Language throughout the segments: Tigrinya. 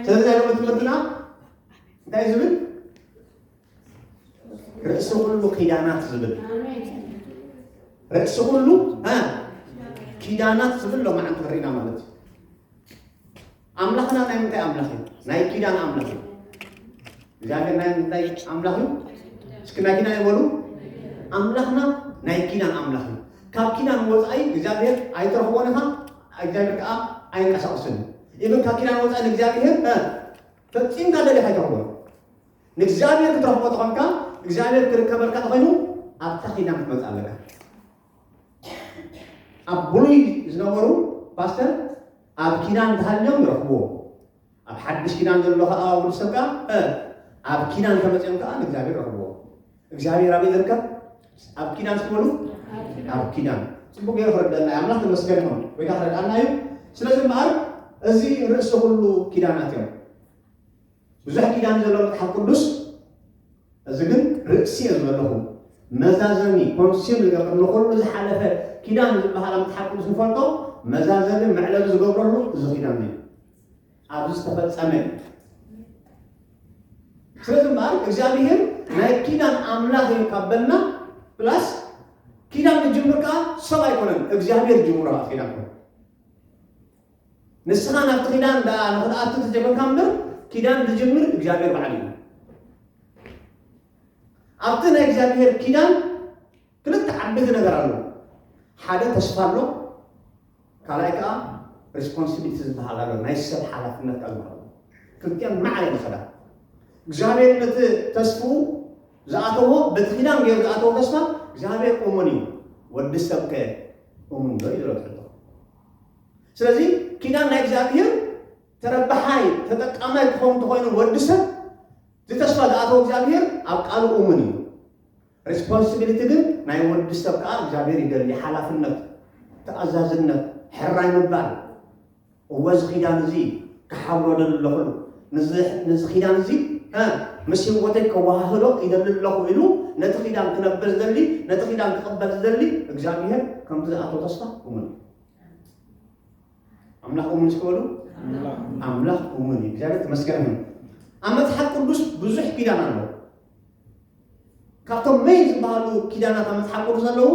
ስለዚ ያለ ትምህርትና እንታይ ዝብል ርእሲ ኩሉ ኪዳናት ዝብል ርእሲ ኩሉ ኪዳናት ዝብል ሎማዓንቲ ክሪና ማለት እዩ ኣምላኽና ናይ ምንታይ ኣምላኽ እዩ? ናይ ኪዳን ኣምላኽ እዩ። እግዚኣብሔር ናይ ምንታይ ኣምላኽ እዩ? እስኪ ናይ ኪዳን ይበሉ። ኣምላኽና ናይ ኪዳን ኣምላኽ እዩ። ካብ ኪዳን ወፃኢ እግዚኣብሔር ኣይትረኽቦን ኢኻ፣ እግዚኣብሔር ከዓ ኣይንቀሳቀስን እዩ። ኢብን ካብ ኪዳን ወፃኢ ንእግዚኣብሔር እ፣ ፈፂምካ ደሊኻ ኣይትረኽቦን። ንእግዚኣብሔር ክትረኽቦ ተኾንካ እግዚኣብሔር ክርከበልካ ተኾይኑ ኣብታ ኪዳን ክትመፅእ ኣለካ። ኣብ ብሉይ ዝነበሩ ፓስተር ኣብ ኪዳን ተሃልዮም ይረኽብዎ ኣብ ሓድሽ ኪዳን ዘሎ ከዓ ወዲ ሰብ ከዓ እ ኣብ ኪዳን ተመፅኦም ከዓ ንእግዚኣብሔር ረኽብዎ እግዚኣብሔር ኣበይ ዝርከብ ኣብ ኪዳን ስትበሉ ኣብ ኪዳን ፅቡቅ ገይሩ ክረደና እዩ ኣምላኽ ተመስገን ይኹን ወይ ከዓ ክረድኣና እዩ ስለዚ እምበኣር እዚ ርእሲ ኩሉ ኪዳናት እዮም ብዙሕ ኪዳን ዘሎ መጽሓፍ ቅዱስ እዚ ግን ርእሲ እየ ዝበለኹ መዛዘሚ ኮንሲል ዝገብር ንኩሉ ዝሓለፈ ኪዳን ዝበሃል መጽሓፍ ቅዱስ ንፈልጦ መዛዘሚ መዕለቢ ዝገብረሉ እዚ ኪዳን እዩ ኣብዚ ዝተፈጸመ እዩ ስለዚ እምበኣር እግዚኣብሄር ናይ ኪዳን ኣምላኽ እዩ ካብ በልና ፕላስ ኪዳን ክጅምር ከዓ ሰብ ኣይኮነን እግዚኣብሄር ጅምሮ ኪዳን ኮነ ንስኻ ናብቲ ኪዳን ደኣ ንኽትኣቱ ተጀመርካ እምበር ኪዳን ዝጅምር እግዚኣብሔር ባዕሉ እዩ። ኣብቲ ናይ እግዚኣብሔር ኪዳን ክልተ ዓበይቲ ነገር ኣሎ። ሓደ ተስፋ ኣሎ፣ ካልኣይ ከዓ ሪስፖንሲቢሊቲ ዝበሃል ኣሎ፣ ናይ ሰብ ሓላፍነት ኣሎ። ክልቲኦም ማዕረ ይኸዳ። እግዚኣብሔር ነቲ ተስፍኡ ዝኣተዎ በቲ ኪዳን ገይሩ ዝኣተዎ ተስፋ እግዚኣብሔር እሙን እዩ፣ ወዲ ሰብ ከ እሙን ዶ እዩ ዝረትዕቶ ስለዚ ኪዳን ናይ እግዚኣብሔር ተረባሓይ ተጠቃማይ ክኸውን ተኮይኑ ወዲ ሰብ ዝተስፋ ዝኣተወ እግዚኣብሔር ኣብ ቃሉ እሙን እዩ ሬስፖንሲቢሊቲ ግን ናይ ወዲ ሰብ ከዓ እግዚኣብሔር ይደሊ ሓላፍነት ተኣዛዝነት ሕራይ ምባል እወ እዚ ኪዳን እዚ ክሓብሮ ደሊ ኣለኹሉ ንዚ ኪዳን እዚ ምስ ህይወተይ ከወሃህዶ ይደሊ ኣለኹ ኢሉ ነቲ ኪዳን ክነብር ዝደሊ ነቲ ኪዳን ክቕበል ዝደሊ እግዚኣብሔር ከምቲ ዝኣተወ ተስፋ እሙን እዩ ኣምላኽ እሙን እስኪ በሉ ኣምላኽ እሙን እዩ እግዚኣብሔር ተመስገን ይሁን ኣብ መጽሓፍ ቅዱስ ብዙሕ ኪዳን ኣለዎ ካብቶም መይ ዝበሃሉ ኪዳናት ኣብ መጽሓፍ ቅዱስ ኣለዉ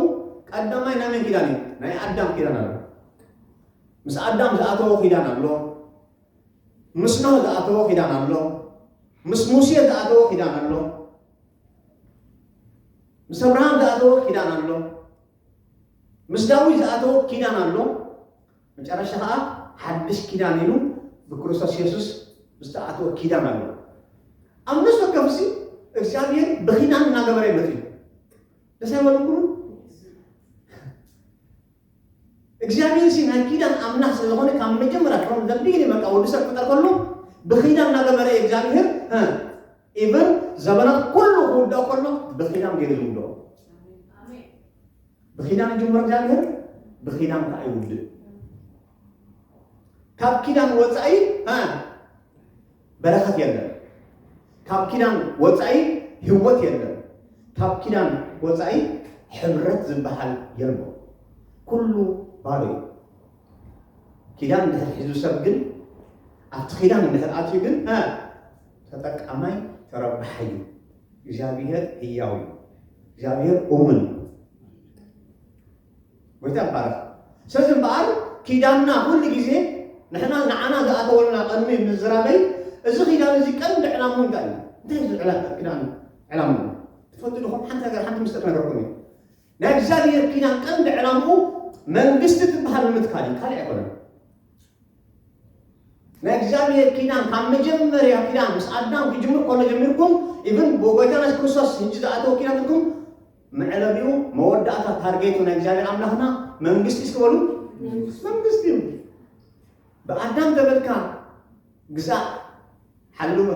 ቀዳማይ ናይ መን ኪዳን እዩ ናይ ኣዳም ኪዳን ኣሎ ምስ ኣዳም ዝኣተዎ ኪዳን ኣሎ ምስ ኖህ ዝኣተዎ ኪዳን ኣሎ ምስ ሙሴ ዝኣተዎ ኪዳን ኣሎ ምስ ኣብርሃም ዝኣተዎ ኪዳን ኣሎ ምስ ዳዊት ዝኣተዎ ኪዳን ኣሎ፣ መጨረሻ ኸኣ ሓድሽ ኪዳን ኢሉ ብክርስቶስ የሱስ ዝተኣተወ ኪዳን ኣሎ። ኣብ ነፍሲ ወከፍሲ እግዚኣብሔር ብኪዳን እናገበረ ይመጽ እዩ። ደስ ኣይበለኩም? እግዚኣብሔር ሲ ናይ ኪዳን ኣምላኽ ስለ ዝኾነ ካብ መጀመርያ ፍሮም ዘ ቢግኒንግ በቃ ወዲ ሰብ ክፈጠር ከሎ ብኪዳን እናገበረ እዩ እግዚኣብሔር እ ኢቭን ዘበናት ኩሉ ክውዳእ ከሎ ብኺዳን ገይሩ ዝውድኦ ብኺዳን ይጅምር እግዚኣብሔር ብኺዳን ከዓ ይውድእ ካብ ኪዳን ወፃኢ እ በረከት የለን ካብ ኪዳን ወፃኢ ህይወት የለን ካብ ኪዳን ወፃኢ ሕብረት ዝበሃል የልቦ ኩሉ ባዶ እዩ ኪዳን እንድሕር ሒዙ ሰብ ግን ኣብቲ ኪዳን እንድሕር ኣትዩ ግን እ ተጠቃማይ ተረባሓይ እዩ። እግዚኣብሔር ህያው እዩ። እግዚኣብሔር እሙን እዩ። ጎይታ ይባረክ። ስለዚ እምበኣር ኪዳንና ኩሉ ግዜ ንሕና ንዓና ዝኣተወልና ቅድሚ ምዝራበይ እዚ ኪዳን እዚ ቀንዲ ዕላሙ እንታይ እዩ? እንታይ እዩ ዕላ- ኪዳን ዕላሙ? ትፈልጡ ድኹም ሓንቲ ነገር ሓንቲ ምስጢር ነገርኩም እዩ። ናይ እግዚኣብሔር ኪዳን ቀንዲ ዕላምኡ መንግስቲ ትበሃል ንምትካል እዩ፣ ካልእ ኣይኮነን። ናይ እግዚኣብሔር ኪዳን ካብ መጀመርያ ኪዳን ምስ ኣዳም ክጅምር ከሎ ጀሚርኩም ኢብን ብጎይታና የሱስ ክርስቶስ ህጂ ዝኣተወ ኪዳን ትርኩም መዕለቢኡ መወዳእታ ታርጌቱ ናይ እግዚኣብሔር ኣምላኽና መንግስቲ እስኪ በሉ መንግስቲ እዩ ብኣዳም ተበልካ ግዛእ ሓልወ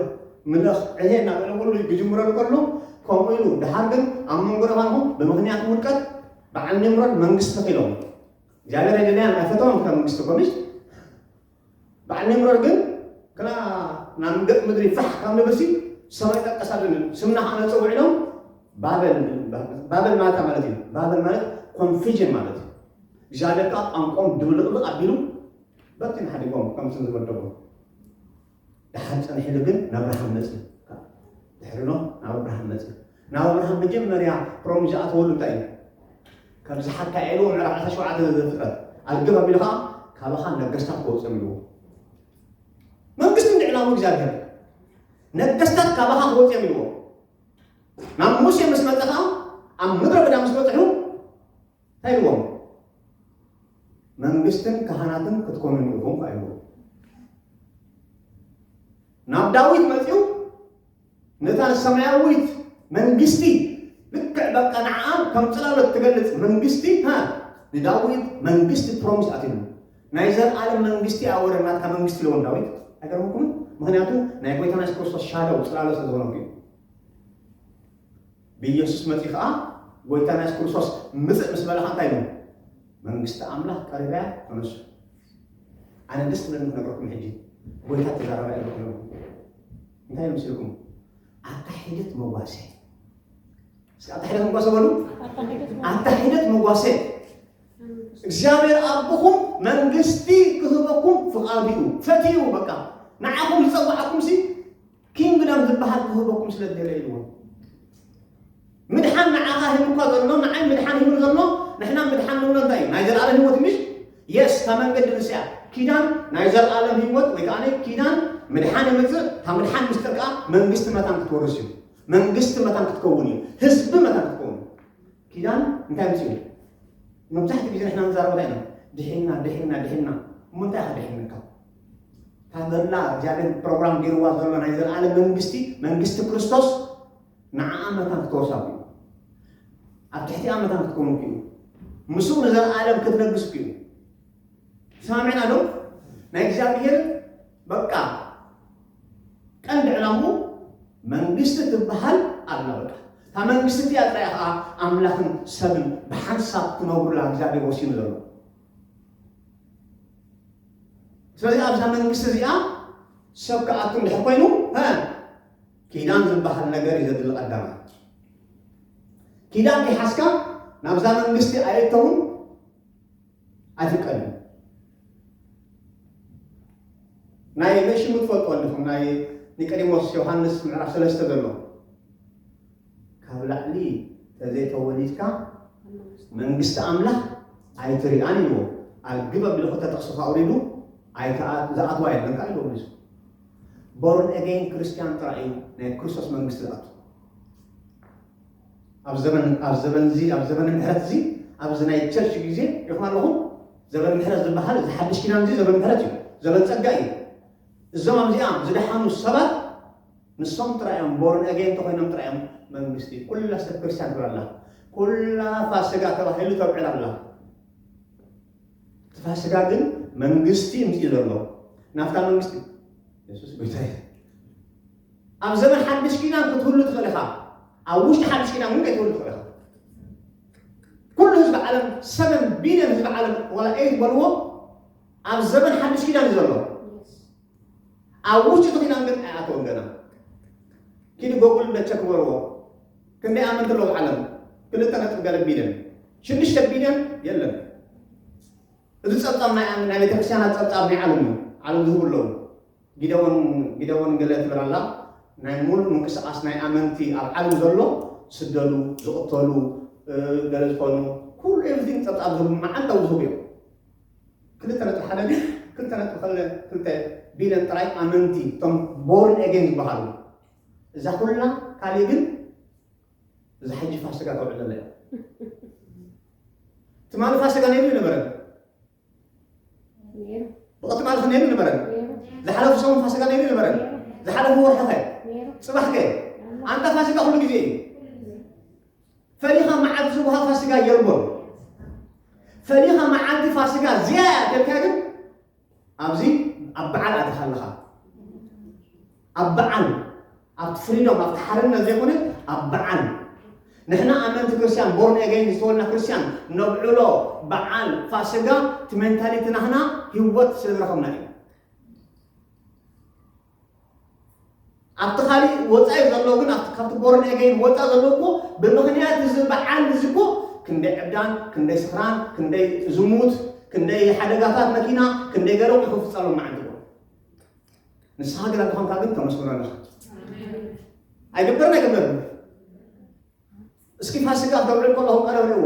ምለኽ ዕሄ እናበለ ኩሉ ክጅምሮ ከሎ ከምኡ ኢሉ ድሃር ግን ኣብ መንጎ ደባልኹም ብምክንያት ውድቀት ብዓል ኒምሮድ መንግስቲ ተኺሎም እግዚኣብሔር ኣይደለያን ኣይፈተውን ካብ መንግስቲ ኮሚሽ በዓል ኒምሮር ግን ግና ናብ ገጥ ምድሪ ፋሕ ካብ ንብልሲ ሰማይ ጠቀስ ኣለኒ ስምና ከዓ ነፀውዕ ኢሎም ባበል ባበል ማለት ማለት እዩ ባበል ማለት ኮንፊዥን ማለት እዩ እግዚኣብሔር ከዓ ቋንቋም ድብልቕልቕ ኣቢሉ በትን ሓዲጎም ከምትን ዝመደቦ ደሓር ጸኒሕሉ ግን ናብርሃም መጽእ ድሕሪ ኖ ናብ ኣብርሃም መጽእ ናብ ኣብርሃም መጀመርያ ሮም ዝኣተወሉ እንታይ እዩ ከምዚ ሓካ ኤሉ ምዕራፍ 17 ዘፍጥረት ኣልገባብ ኢሉ ከዓ ካባኻ ነገስታት ክወፅም ኢልዎ መንግስቲ እንዲ ዕላሙ እግዚኣብሔር ነገስታት ካባኻ ክወፅም ኢልዎ ናብ ሙሴ ምስ መፀ ከዓ ኣብ ምድረ በዳ ምስ በፅሑ እንታይ ኢልዎም? መንግስትን ካህናትን ክትኮኑን ኢኹም ከዓ ኢልዎም። ናብ ዳዊት መፅኡ ነታ ሰማያዊት መንግስቲ ልክዕ በቃ ንዓኣ ከም ፅላሎት ትገልፅ መንግስቲ ሃ ንዳዊት መንግስቲ ፕሮሚስ ኣትሉ ናይ ዘለዓለም መንግስቲ እያ ወረ ናትካ መንግስቲ ኢልዎም ዳዊት ኣይገርመኩምን? ምክንያቱ ናይ ጎይታና የሱስ ክርስቶስ ሻደው ፅላሎት ስለዝኾነ እዩ። ብኢየሱስ መጺ ከኣ ጎይታና ኢየሱስ ክርስቶስ ምጽእ ምስ በለ እንታይ ኢሉ መንግስቲ ኣምላኽ ቀሪባ እያ ተነሱ ኣነ ደስ ትብለኒ ክነግረኩም ሕጂ ጎይታ ተዛረባ ኢሉ ክነግረኩም እንታይ ኢሉ ምስልኩም ኣታ ሒደት መጓሰ እስኪ ኣታ ሒደት መጓሰ በሉ ኣታ ሒደት መጓሰ እግዚኣብሔር ኣቦኹም መንግስቲ ክህበኩም ፍቓዱ እዩ ፈትዩ በቃ ንዓኹም ዝጸዋዕኩም ሲ ኪንግደም ዝበሃል ክህበኩም ስለ ዝደለ ኢልዎም ምድሓን ንዓኻ ሂቡ እኳ ዘሎ ንዓይ ምድሓን ሂቡ ዘሎ ንሕና ምድሓን ንብሎ እንታይ እዩ ናይ ዘለኣለም ህይወት ምሽ የስ እታ መንገዲ ንስያ ኪዳን ናይ ዘለኣለም ህይወት ወይ ከዓ ኪዳን ምድሓን የምፅእ እታ ምድሓን ምስጢር ከዓ መንግስቲ መታን ክትወርስ እዩ መንግስቲ መታን ክትከውን እዩ ህዝቢ መታን ክትከውን እዩ ኪዳን እንታይ ምፅኡ መብዛሕትኡ ግዜ ንሕና ንዛረበታ ኢና ድሒና ድሒና ድሒና እሞ እንታይ ኢኻ ድሒንካ እታ ዘላ እግዚኣብሔር ፕሮግራም ገይርዋ ዘሎ ናይ ዘለዓለም መንግስቲ መንግስቲ ክርስቶስ ንዓኣ መታን ክተወሳኩ እዩ ኣብ ትሕቲኣ መታን ክትከውን ክዩ ምስኡ ንዘለዓለም ክትነግስ ክዩ ሰማሚዕና ዶ ናይ እግዚኣብሔር በቃ ቀንዲ ዕላሙ መንግስቲ ትበሃል ኣላ በቃ እታ መንግስቲ እቲኣ ጥራይ ከዓ ኣምላኽን ሰብን ብሓንሳብ ክነብሩላ እግዚኣብሔር ወሲኑ ዘሎ ስለዚ ኣብዛ መንግስቲ እዚኣ ሰብ ክኣቱ እንድሕር ኮይኑ እ ኪዳን ዝበሃል ነገር እዩ ዘድሊ ቀዳማይ ኪዳን ይሓስካ ናብዛ መንግስቲ ኣየእተውን ኣይፍቀድን ናይ መሽሙ ትፈልጦ ኣለኹም ናይ ኒቆዲሞስ ዮሃንስ ምዕራፍ ሰለስተ ዘሎ ካብ ላዕሊ ተዘይተወሊድካ መንግስቲ ኣምላኽ ኣይትሪኣን ኢልዎ ኣግብ ኣቢሉ ክልተ ጥቕሲ ካብ ኣውሪዱ ዝኣትዋ የለን ከዓ ኢልዎ መሊሱ ቦርን ኤጌን ክርስቲያን ጥራይ እዩ ናይ ክርስቶስ መንግስቲ ዝኣቱ ኣብ ዘመን ኣብ ዘመን እዚ ኣብ ዘመን ምሕረት እዚ ኣብዚ ናይ ቸርች ግዜ ይኹን ኣለኹም ዘመን ምሕረት ዝበሃል እዚ ሓድሽ ኪዳን እዚ ዘመን ምሕረት እዩ ዘመን ፀጋ እዩ እዞም ኣብዚኣ ዝደሓኑ ሰባት ንሶም ጥራይ እዮም ቦርን ኣገይን ተኾይኖም ጥራይ እዮም መንግስቲ ኩላ ሰብ ክርስቲያን ትብል ኣላ ኩላ ፋስጋ ተባሂሉ ተብዕል ኣላ እቲ ፋስጋ ግን መንግስቲ እምፅኡ ዘሎ ናብታ መንግስቲ የሱስ ጎይታ እዩ ኣብ ዘመን ሓድሽ ኪዳን ክትህሉ ትኽእል ኢኻ ኣብ ውሽጢ ሓድሽ ኪዳን ግን ከይትህሉ ትኽእል ኢኻ ኩሉ ህዝቢ ዓለም ሰቨን ቢልዮን ህዝቢ ዓለም ዋላ ኤይት በልዎ ኣብ ዘመን ሓድሽ ኪዳን እዩ ዘሎ ኣብ ውሽጢ እቲ ኪዳን ግን ኣይኣተወን ገና ኪዱ ጎጉል ደቸ ክበርዎ ክንደይ ኣመንቲ ኣለዉ ዓለም ክልተ ነጥቢ ገለ ቢልዮን ሽዱሽተ ቢልዮን የለን እዚ ጸብጻብ ናይ ናይ ቤተክርስትያናት ጸብጻብ ናይ ዓለም እዩ ዓለም ዝህቡ ኣለዉ ጊደወን ጊደወን ገለ ትብል ኣላ ናይ ሙሉእ ምንቅስቃስ ናይ ኣመንቲ ኣብ ዓለም ዘሎ ዝስደዱ ዝቕተሉ ገለ ዝኾኑ ኩሉ ኤቭሪቲንግ ፀብፃብ ዝህቡ መዓልታዊ ዝህቡ እዮም ክልተ ነጥቢ ሓደ ግን ክልተ ነጥቢ ክለ ክልተ ቢልዮን ጥራይ ኣመንቲ እቶም ቦርን ኤጌን ዝበሃሉ እዛ ኩልና ካልእ ግን እዛ ሕጂ ፋሲጋ ተውዕል ዘለ እያ ትማሊ ፋሲጋ ነይሩ ይነበረን ነይሩ ብቕትማል ነይሩ ይነበረን ነይሩ ዝሓለፉ ሰሙን ፋሲጋ ነይሩ ይነበረን ዝሓለፉ ወርሒ ኸ ነይሩ ፅባሕ ከ ኣንታ ፋሲጋ ኩሉ ግዜ እዩ ፈሊኻ መዓልቲ ዝወሃብ ፋሲጋ የልቦን። ፈሊኻ መዓልቲ ፋሲጋ ዝያያ ደልካ ግን ኣብዚ ኣብ በዓል ኣትኻ ኣለኻ ኣብ በዓል ኣብቲ ፍሪዶም ኣብቲ ሓርነት ዘይኮነ ኣብ በዓል ንሕና ኣመንቲ ክርስቲያን ቦርን ኤገይን ዝተወልና ክርስቲያን ነብዕሎ በዓል ፋሲጋ እቲ ሜንታሊቲ ናህና ህይወት ስለ ዝረኸብና እዩ ኣብቲ ካሊእ ወፃኢ ዘሎ ግን ኣብቲ ካብቲ ቦርን ኤገይን ወፃእ ዘሎ እኮ ብምክንያት እዚ በዓል እዚ እኮ ክንደይ ዕብዳን ክንደይ ስኽራን ክንደይ ዝሙት ክንደይ ሓደጋታት መኪና ክንደይ ገለ ቁሑ ፍፀሎም መዓልቲ እኮ ንስኻ ግን ኣተኾንካ ግን ተመስግኖ ኣለኻ ኣይግበርን ኣይግበርን እስኪ ፋሲካ ተብዕል ከለኹም ቀረብ ሪእዎ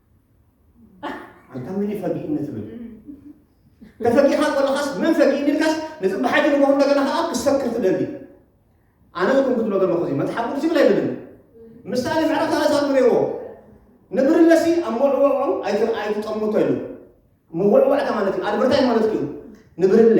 ኣንታ መን እዩ ፈጊእኒ ትብል ተፈጊኻ ከለኻስ መን ፈጊእኒ ኢልካስ ንፅባሓይቲ ንጎ እንደገና ከዓ ክሰክር ትደሊ ኣነ ዝኩም ክትብሎ ዘለኹ እዚ መፅሓፍ ቅዱስ ይብል ኣይብልን ምሳሌ ምዕራፍ ሰላሳ ንሪእዎ ንብርለሲ ኣብ መውዕወዑ ኣይት- ኣይትጠምቶ ኢሉ መወዕወዕታ ማለት እዩ ኣድበርታይ ማለት እዩ ንብርለ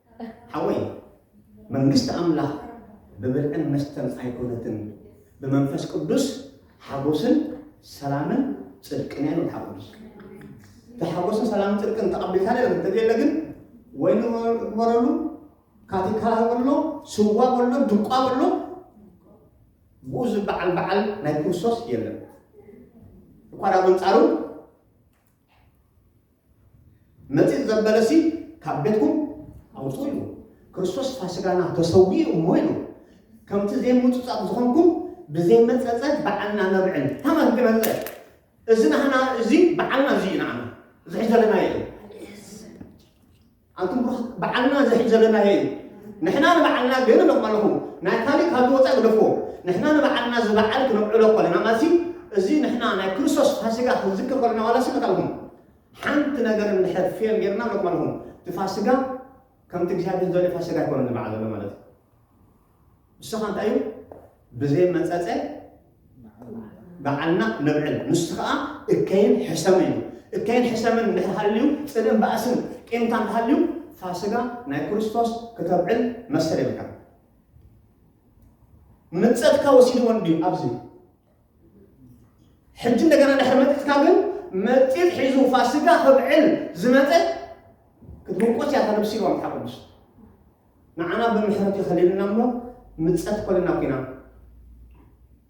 ሓወይ መንግስቲ ኣምላኽ ብብልዕን መስተን ኣይኮነትን ብመንፈስ ቅዱስ ሓጎስን ሰላምን ጽድቅን እያ መጽሓፍ ቅዱስ እቲ ሓጎስን ሰላምን ጽድቅን ተቐቢልካ ለ እንተዘየለ ግን ወይ ንበረሉ ካቲካላ በሎ ስዋ በሎ ድቋ በሎ ብኡ ዝበዓል በዓል ናይ ክርስቶስ የለን እኳ ዳ በንጻሩ መጺጽ ዘበለሲ ካብ ቤትኩም ኣውጹ ኢሉ ክርስቶስ ፋስጋና ተሰዊኡ እሞ ኢሉ ከምቲ ዘይምጹጻቕ ዝኾንኩም ብዘይመጸጸ በዓልና ነብዕል ታማን ግነዘ እዚ ናህና እዚ በዓልና እዚ ኢና ዓና ዝሕዘለና እዩ ኣንቱም ቡሩኻት ባዓልና እዚ ሕጂ ዘለናዮ እዩ ንሕና ንባዓልና ግን እብለኩም ኣለኹ ናይ ካሊእ ካብ ዝወፃኢ ግደፍዎ ንሕና ንባዓልና እዚ ባዓል ክነብዕሎ ከለና ማለት እዚ ንሕና ናይ ክርስቶስ ፋሲጋ ክንዝክር ከለና ዋላ ሲ መታልኩም ሓንቲ ነገር እንድሕር ፌል ጌርና እብለኩም ኣለኹ እቲ ፋሲጋ ከምቲ እግዚኣብሔር ዘርኢ ፋሲጋ ኣይኮነን ዝበዓል ዘሎ ማለት እዩ ንስኻ እንታይ እዩ ብዘይ መጸጸ በዓልና ነብዕል ንሱ ከዓ እከይን ሕሰምን እዩ እከይን ሕሰምን እንድሕር ሃልዩ ጽልእን ባእስን ቂምታ እንተሃልዩ ፋስጋ ናይ ክርስቶስ ክተብዕል መሰል የብልካ ምጸትካ ወሲድዎ እንድዩ ኣብዚ ሕጂ እንደገና ድሕሪ መጢጥካ ግን መጢጥ ሒዙ ፋስጋ ከብዕል ዝመጠ ክትውቆስ እያ ተነብሲ ኢልዋ መጽሓፍ ቅዱስ ንዓና ብምሕረቱ ከሊሉና እሞ ምጸት ኮልና ኩና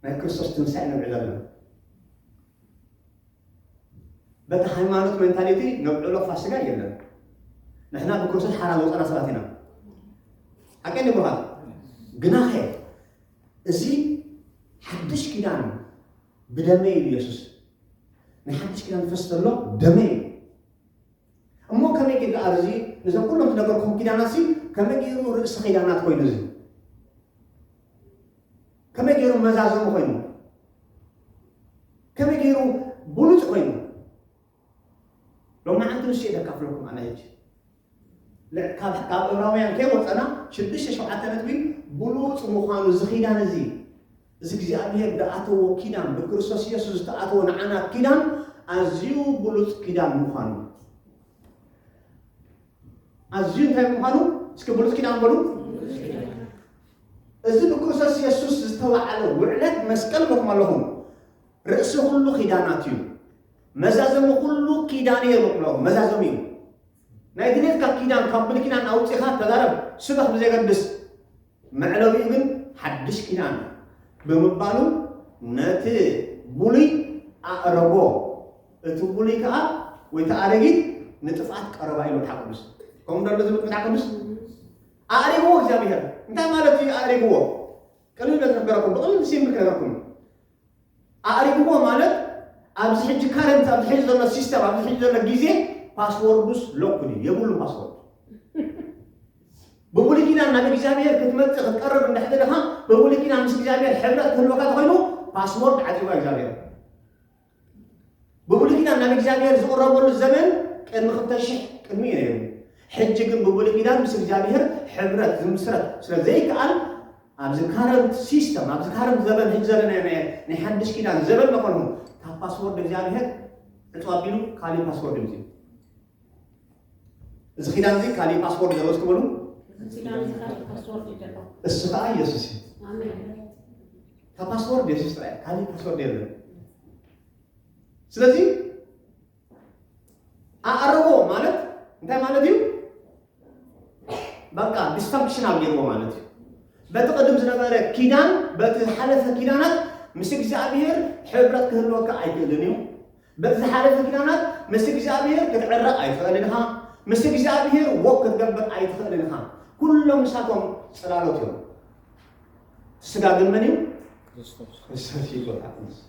ናይ ክርስቶስ ትንሳኤ ነብዕል ኣለና በቲ ሃይማኖት ሜንታሊቲ ነብዕሎ ፋሲጋ የለን ንሕና ብክርስቶስ ሓራ ዝወፀና ሰባት ኢና ሓቀይ ንብሃ ግናኸ እዚ ሓድሽ ኪዳን ብደመይ ኢሉ የሱስ ናይ ሓድሽ ኪዳን ዝፈስ ዘሎ ደመይ እዩ እሞ ከመይ ግን ደኣ እዚ ነዘን ኩለን ዝነገርኩም ኪዳናትሲ ከመይ ገይሩ ርእሲ ኪዳናት ኮይኑ እዚ ከመይ ገይሩ መዛዘሙ ኮይኑ ከመይ ገይሩ ብሉፅ ኮይኑ ሎሚ ሓንቲ ንሱ እየ ዘካፍለኩም ኣነ ሕጂ ልዕ- ካብ ካብ ዕብራውያን ከይወፀና ሽዱሽተ ሸውዓተ ነጥቢ ብሉፅ ምዃኑ እዚ ኪዳን እዚ እዚ እግዚኣብሔር ዝኣተዎ ኪዳን ብክርስቶስ ኢየሱስ ዝተኣተወ ንዓና ኪዳን ኣዝዩ ብሉጽ ኪዳን ምዃኑ ኣዝዩ እንታይ ምዃኑ እስኪ ብሉጽ ኪዳን በሉ እዚ ብክርስቶስ ኢየሱስ ዝተባዕለ ውዕለት መስቀል ኢልኩም ኣለኹም ርእሲ ኩሉ ኪዳናት እዩ መዛዘሚ ኩሉ ኪዳን እየ ምቕሎ መዛዘሚ እዩ ናይ ድሌት ካብ ኪዳን ካብ ብሉይ ኪዳን ኣውጺኻ ተዛረብ ስበኽ ብዘየገድስ መዕለቢኡ ግን ሓድሽ ኪዳን ብምባሉ ነቲ ብሉይ ኣዕረጎ እቲ ብሉይ ከኣ ወይ እቲ ኣረጊት ንጥፍኣት ቀረባ ኢሉ መጽሓፍ ቅዱስ ከምኡ ዶ ኣሎ ዝብል መጽሓፍ ቅዱስ ኣዕሪግዎ እግዚኣብሔር እንታይ ማለት እዩ ኣዕሪግዎ ቅልል በዝነገረኩም ብቕልል ሲምብል ክነገርኩም ኣእሪግዎ ማለት ኣብዚ ሕጂ ካረንት ኣብዚ ሕጂ ዘሎ ሲስተም ኣብዚ ሕጂ ዘሎ ግዜ ፓስወርዱስ ሎክድ እዩ የብሉ ፓስወርድ ብብሉይ ኪዳን ናብ እግዚኣብሔር ክትመጽእ ክትቀርብ እንድሕቲ ድኻ ብብሉይ ኪዳን ምስ እግዚኣብሔር ሕብረት ክህልወካ ተኮይኑ ፓስወርድ ዓጺዋ እግዚኣብሔር ብብሉይ ኪዳን ናብ እግዚኣብሔር ዝቕረበሉ ዘመን ቅድሚ ክልተ ሽሕ ቅድሚ እዩ ነይሩ ሕጂ ግን ብብሉይ ኪዳን ምስ እግዚኣብሔር ሕብረት ዝምስረት ስለ ዘይከኣል ኣብዚ ካረንት ሲስተም ኣብዚ ካረንት ዘበን ሕጂ ዘለና ናይ ናይ ሓድሽ ኪዳን ዘበን መኾኑ ካብ ፓስወርድ እግዚኣብሔር ዕፁ ኣቢሉ ካሊእ ፓስወርድ እዩ እዚ ኪዳን እዚ ካሊእ ፓስወርድ ዘለዎ ትበሉ እሱ ከዓ ኢየሱስ እዩ ካብ ፓስወርድ ኢየሱስ ጥራይ ካሊእ ፓስወርድ የለን ስለዚ ኣዕርቦ ማለት እንታይ ማለት እዩ? በቃ ዲስፋንክሽናል ገይርዎ ማለት እዩ። በቲ ቅድም ዝነበረ ኪዳን በቲ ዝሓለፈ ኪዳናት ምስ እግዚኣብሔር ሕብረት ክህልወካ ኣይክእልን እዩ። በቲ ዝሓለፈ ኪዳናት ምስ እግዚኣብሔር ክትዕረቕ ኣይትኽእልን ኢኻ። ምስ እግዚኣብሔር ወክ ክትገብር ኣይትኽእልን ኢኻ። ኩሎም ንሳቶም ጽላሎት እዮም። ስጋ ግን መን እዩ? ክርስቶስ እዩ ጎይታ ክርስቶስ።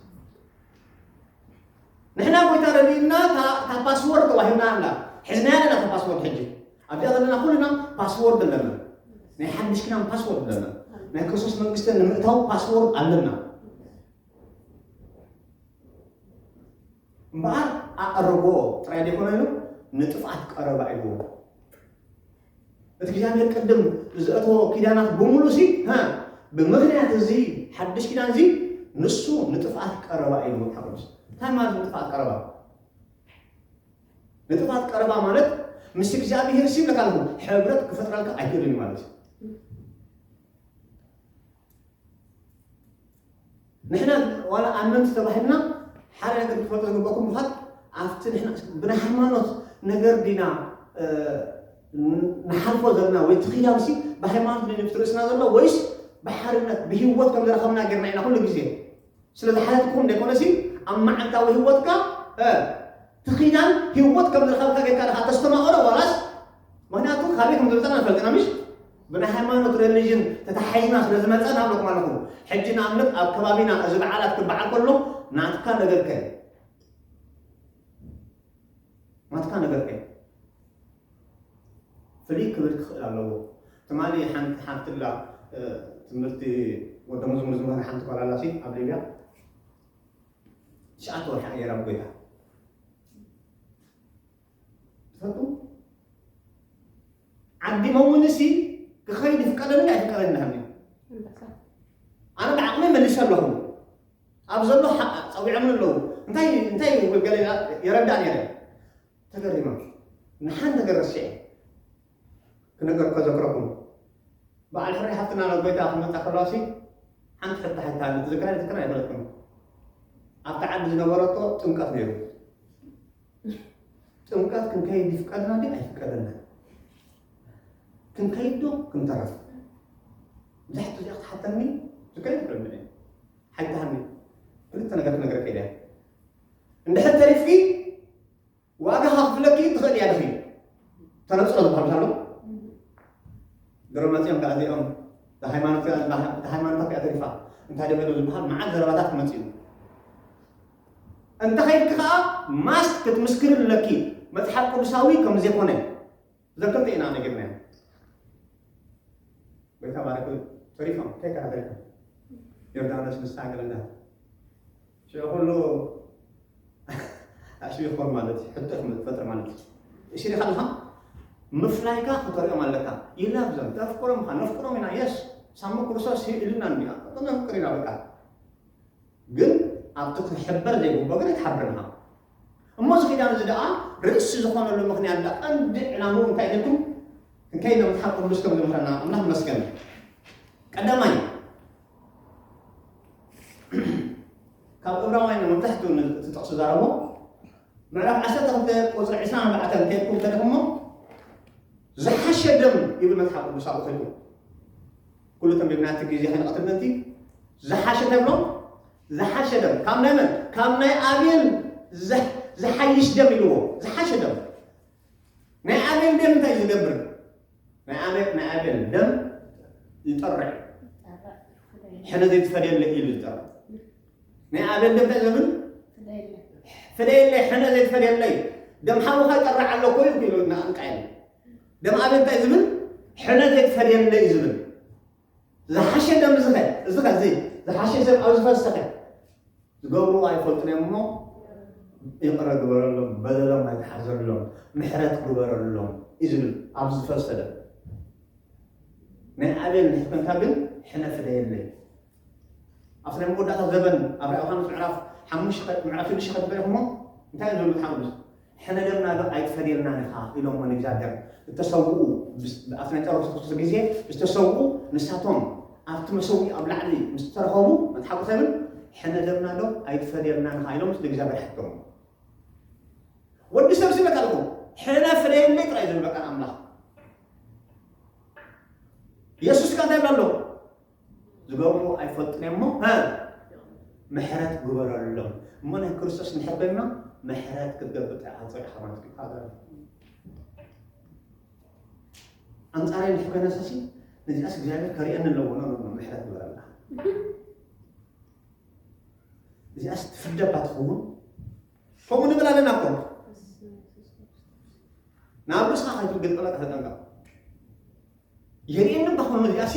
ንሕና ጎይታ ረድእና እታ ፓስዎርድ ተዋሂብና ኣላ ሕዝናያ ኣለና እታ ፓስዎርድ ሕጂ ኣብዚኣ ዘለና ኩልና ፓስዎርድ ኣለና ናይ ሓድሽ ኪዳን ፓስዎርድ ኣለና ናይ ክርስቶስ መንግስቲ ንምእታው ፓስዎርድ ኣለና እምበኣር ኣቐርቦ ጥራይ ዘይኮነ ኢሉ ንጥፍኣት ቀረባ ኢልዎ እቲ እግዚኣብሔር ቅድም ዘእተዎ ኪዳናት ብምሉ ሲ ብምክንያት እዚ ሓድሽ ኪዳን እዚ ንሱ ንጥፍኣት ቀረባ ኢሉ መጽሓፍ ቅዱስ እንታይ ማለት ንጥፍኣት ቀረባ ንጥፍኣት ቀረባ ማለት ምስ እግዚኣብሔር ሲ ብለካ ኣለኹ ሕብረት ክፈጥረልካ ኣይክእልን ማለት እዩ ንሕና ዋላ ኣመንቲ ተባሂልና ሓደ ነገር ክፈልጦ ዝግበኩም ምዃት ኣብቲ ንሕና ብናይ ሃይማኖት ነገር ዲና ንሓልፎ ዘለና ወይ ትኽያምሲ ብሃይማኖት ነ ብትርእስና ዘሎ ወይስ ብሓርነት ብሂወት ከም ዝረኸብና ጌርና ኢና ኩሉ ግዜ ስለ ዝሓለትኩም ዘይኮነሲ ኣብ መዓልታዊ ሂወትካ እቲ ኪዳን ሂወት ከም ዝረኸብካ ጌርካ ድኻ ተስተማቕሮ ዋላስ ምኽንያቱ ካበይ ከም ዝመጸና ንፈልጥ ኢና ምሽ ብናይ ሃይማኖት ረሊጅን ተታሓሒዝና ስለ ዝመጸና እብለኩም ኣለኹ ሕጂ ንኣብነት ኣብ ከባቢና እዚ በዓላት ክበዓል ከሎ ናትካ ነገርከ ናትካ ነገርከ ፍልይ ክብል ክኽእል ኣለዎ ትማሊ ሓንቲ ሓፍትላ ትምህርቲ ወደ መዝሙር ዝምህር ሓንቲ ጓል ኣላሲ ኣብ ሊብያ ትሽዓተ ወርሒ ኣየር ኣብ ጎይታ ትፈልጡ ዓዲ መውን እሲ ክኸይድ ይፍቀደኒ ኣይፍቀደኒ ናሃኒ ኣነ ብዓቕሚ መልሰ ኣለኹ ኣብ ዘሎ ሓቕ ፀዊዖምን ኣለዉ እንታይ እንታይ ገለ የረዳእ ነይረ ተገሪማ ንሓን ነገር ረሲዐ ክነገር ከዘክረኩም በዓል ፍሬ ሓፍትና ናብ ጎይታ ክመጻ ከሎሲ ሓንቲ ሕቶ ሓታለ ትዝክራ ትዝክራ ኣይፈለጥኩም ኣብቲ ዓዲ ዝነበረቶ ጥምቀት ነይሩ ጥምቀት ክንከይድ ይፍቀድና ዲ ኣይፍቀደና ክንከይድ ዶ ክንተረፍ እዛ ሕቶ እዚኣ ክትሓተኒ ዝከይድ ይፍረድ ሓታኒ ክልተ ነገር ክነገረከ ኢለ እንድሕር ተሪፍኪ ዋጋ ከክፍለኪ ትኽእል እያ ድኺ ተነፅሎ ዝበሃሉ ኣሎ ገሮም መፅኦም ከዓ እዚኦም ብሃይማኖት ሃይማኖታት እያ ተሪፋ እንታይ ደገዶ ዝበሃል መዓት ዘረባታት ክመፅ እዩ እንተ ከይድኪ ከዓ ማስ ክትምስክሪ ኣለኪ መፅሓፍ ቅዱሳዊ ከም ዘይኮነ ዘክርተ ኢና ነጊርና ጎይታ ባረክ ተሪፎም ከካ ተሪፎም ዮርዳኖስ ምስ ታንግርና ሽዑ ኩሉ ኣሽቢ ክኾን ማለት እዩ ሕቶ ክፈጥር ማለት እዩ እሽሪ ከለኻ ምፍላይካ ክተሪኦም ኣለካ ይላብ ዘም ተፍቅሮም ኻ ነፍቅሮም ኢና የስ ሳሙ ክርስቶስ ኢልና እንዲያ ነፍቅር ኢና በቃ ግን ኣብቲ ክሕበር ዘይግብኦ ግን ኣይትሓብርን ኢኻ እሞ እዚ ኪዳን እዚ ደኣ ርእሲ ዝኾነሉ ምኽንያት ደኣ ቀንዲ ዕላምኡ እንታይ ኢልኩም ክንከይድ ናብ መጽሓፍ ቅዱስ ከም ዝምህረና ኣምላኽ መስገን ቀዳማይ ካብ እብራውያን መብዛሕትኡ ንትጠቕሱ ዛረቦ ምዕራፍ 12 ቁፅሪ 24 ከይድኩም እንተደኹሞ ዝሓሸ ደም ይብል መጽሓፍ ቅዱስ ኣብኡ ከይድኩም ኩሉ ተንቢብና እቲ ግዜ ሕንቐት ምእንቲ ዝሓሸ ደም ሎ ዝሓሸ ደም ካብ ናይ መን ካብ ናይ ኣቤል ዝሕ- ዝሓይሽ ደም ኢልዎ ዝሓሸ ደም ናይ ኣቤል ደም እንታይ እዩ ዝገብር ናይ ኣቤል ናይ ኣቤል ደም ይጠርዕ ሕነ ዘይትፈደየለ ኢሉ ዝጠርዕ ናይ ኣቤል ደም ናይ ዘምን ፍለየለይ ሕነ ዘይትፈልየለይ ደም ሓውኻ ይጠርዕ ኣሎ ኮይ ኢሉ ንቃየል ደም ኣቤል እንታይ ዝብል ሕነ ዘይትፈልየለይ ዝብል ዝሓሸ ደም ዝኸ እዚ ከ እዚ ዝሓሸ ሰብ ኣብ ዝፈሰኸ ዝገብሩ ኣይፈልጡን እዮም እሞ ይቕረ ግበረሎም በደሎም ኣይትሓዘሎም ምሕረት ግበረሎም እዩ ዝብል ኣብ ዝፈሰደ ናይ ኣቤል ሕክምታ ግን ሕነ ፍለየለይ ኣብቲ ናይ መወዳእታ ዘበን ኣብ ራእይ ዮሃንስ ምዕራፍ ሓሙሽተ ምዕራፍ ሽዱሽተ ከትበኢኹሞ እንታይ እዮም ዝብሉ መጽሓፍ ቅዱስ ሕነ ደምና ዶ ኣይትፈድየልናን ኢኻ ኢሎሞ ንእግዚኣብሔር እተሰውኡ ኣብቲ ናይ ጸሎት ክርስቶስ ግዜ ዝተሰውኡ ንሳቶም ኣብቲ መሰውኢ ኣብ ላዕሊ ምስ ተረኸቡ መጽሓፍ ቅዱስ ይብል ሕነ ደምና ዶ ኣይትፈድየልናን ኢኻ ኢሎም ምስ ንእግዚኣብሔር ሓተሙ ወዲ ሰብ ሲበካ ኣለኹ ሕነ ፍደየለይ ጥራይ ዝብል በቃ ኣምላኽ የሱስ ከ እንታይ ይብላ ኣሎ ዝገብርዎ ኣይፈልጡን እዮም እሞ እ ምሕረት ግበረሎም እሞ ናይ ክርስቶስ ንሕበና ምሕረት ክትገብር ጥራሕ ኣብ ፅርሕኻ ማለት እዩ ካብ በለ ኣንፃራይ ንሕ ከነሰሲ ነዚኣስ እግዚኣብሔር ከሪአኒ ኣለዎ ኖ ኖ ምሕረት ግበረላ እዚኣስ ትፍደባ ትኸውን ከምኡ ንብል ኣለና እኮ ናብ ርእስኻ ከይትርግጥ ጠበቃ ተጠንቀቕ የርእየኒ እባ ክኸውን እዚኣ ሲ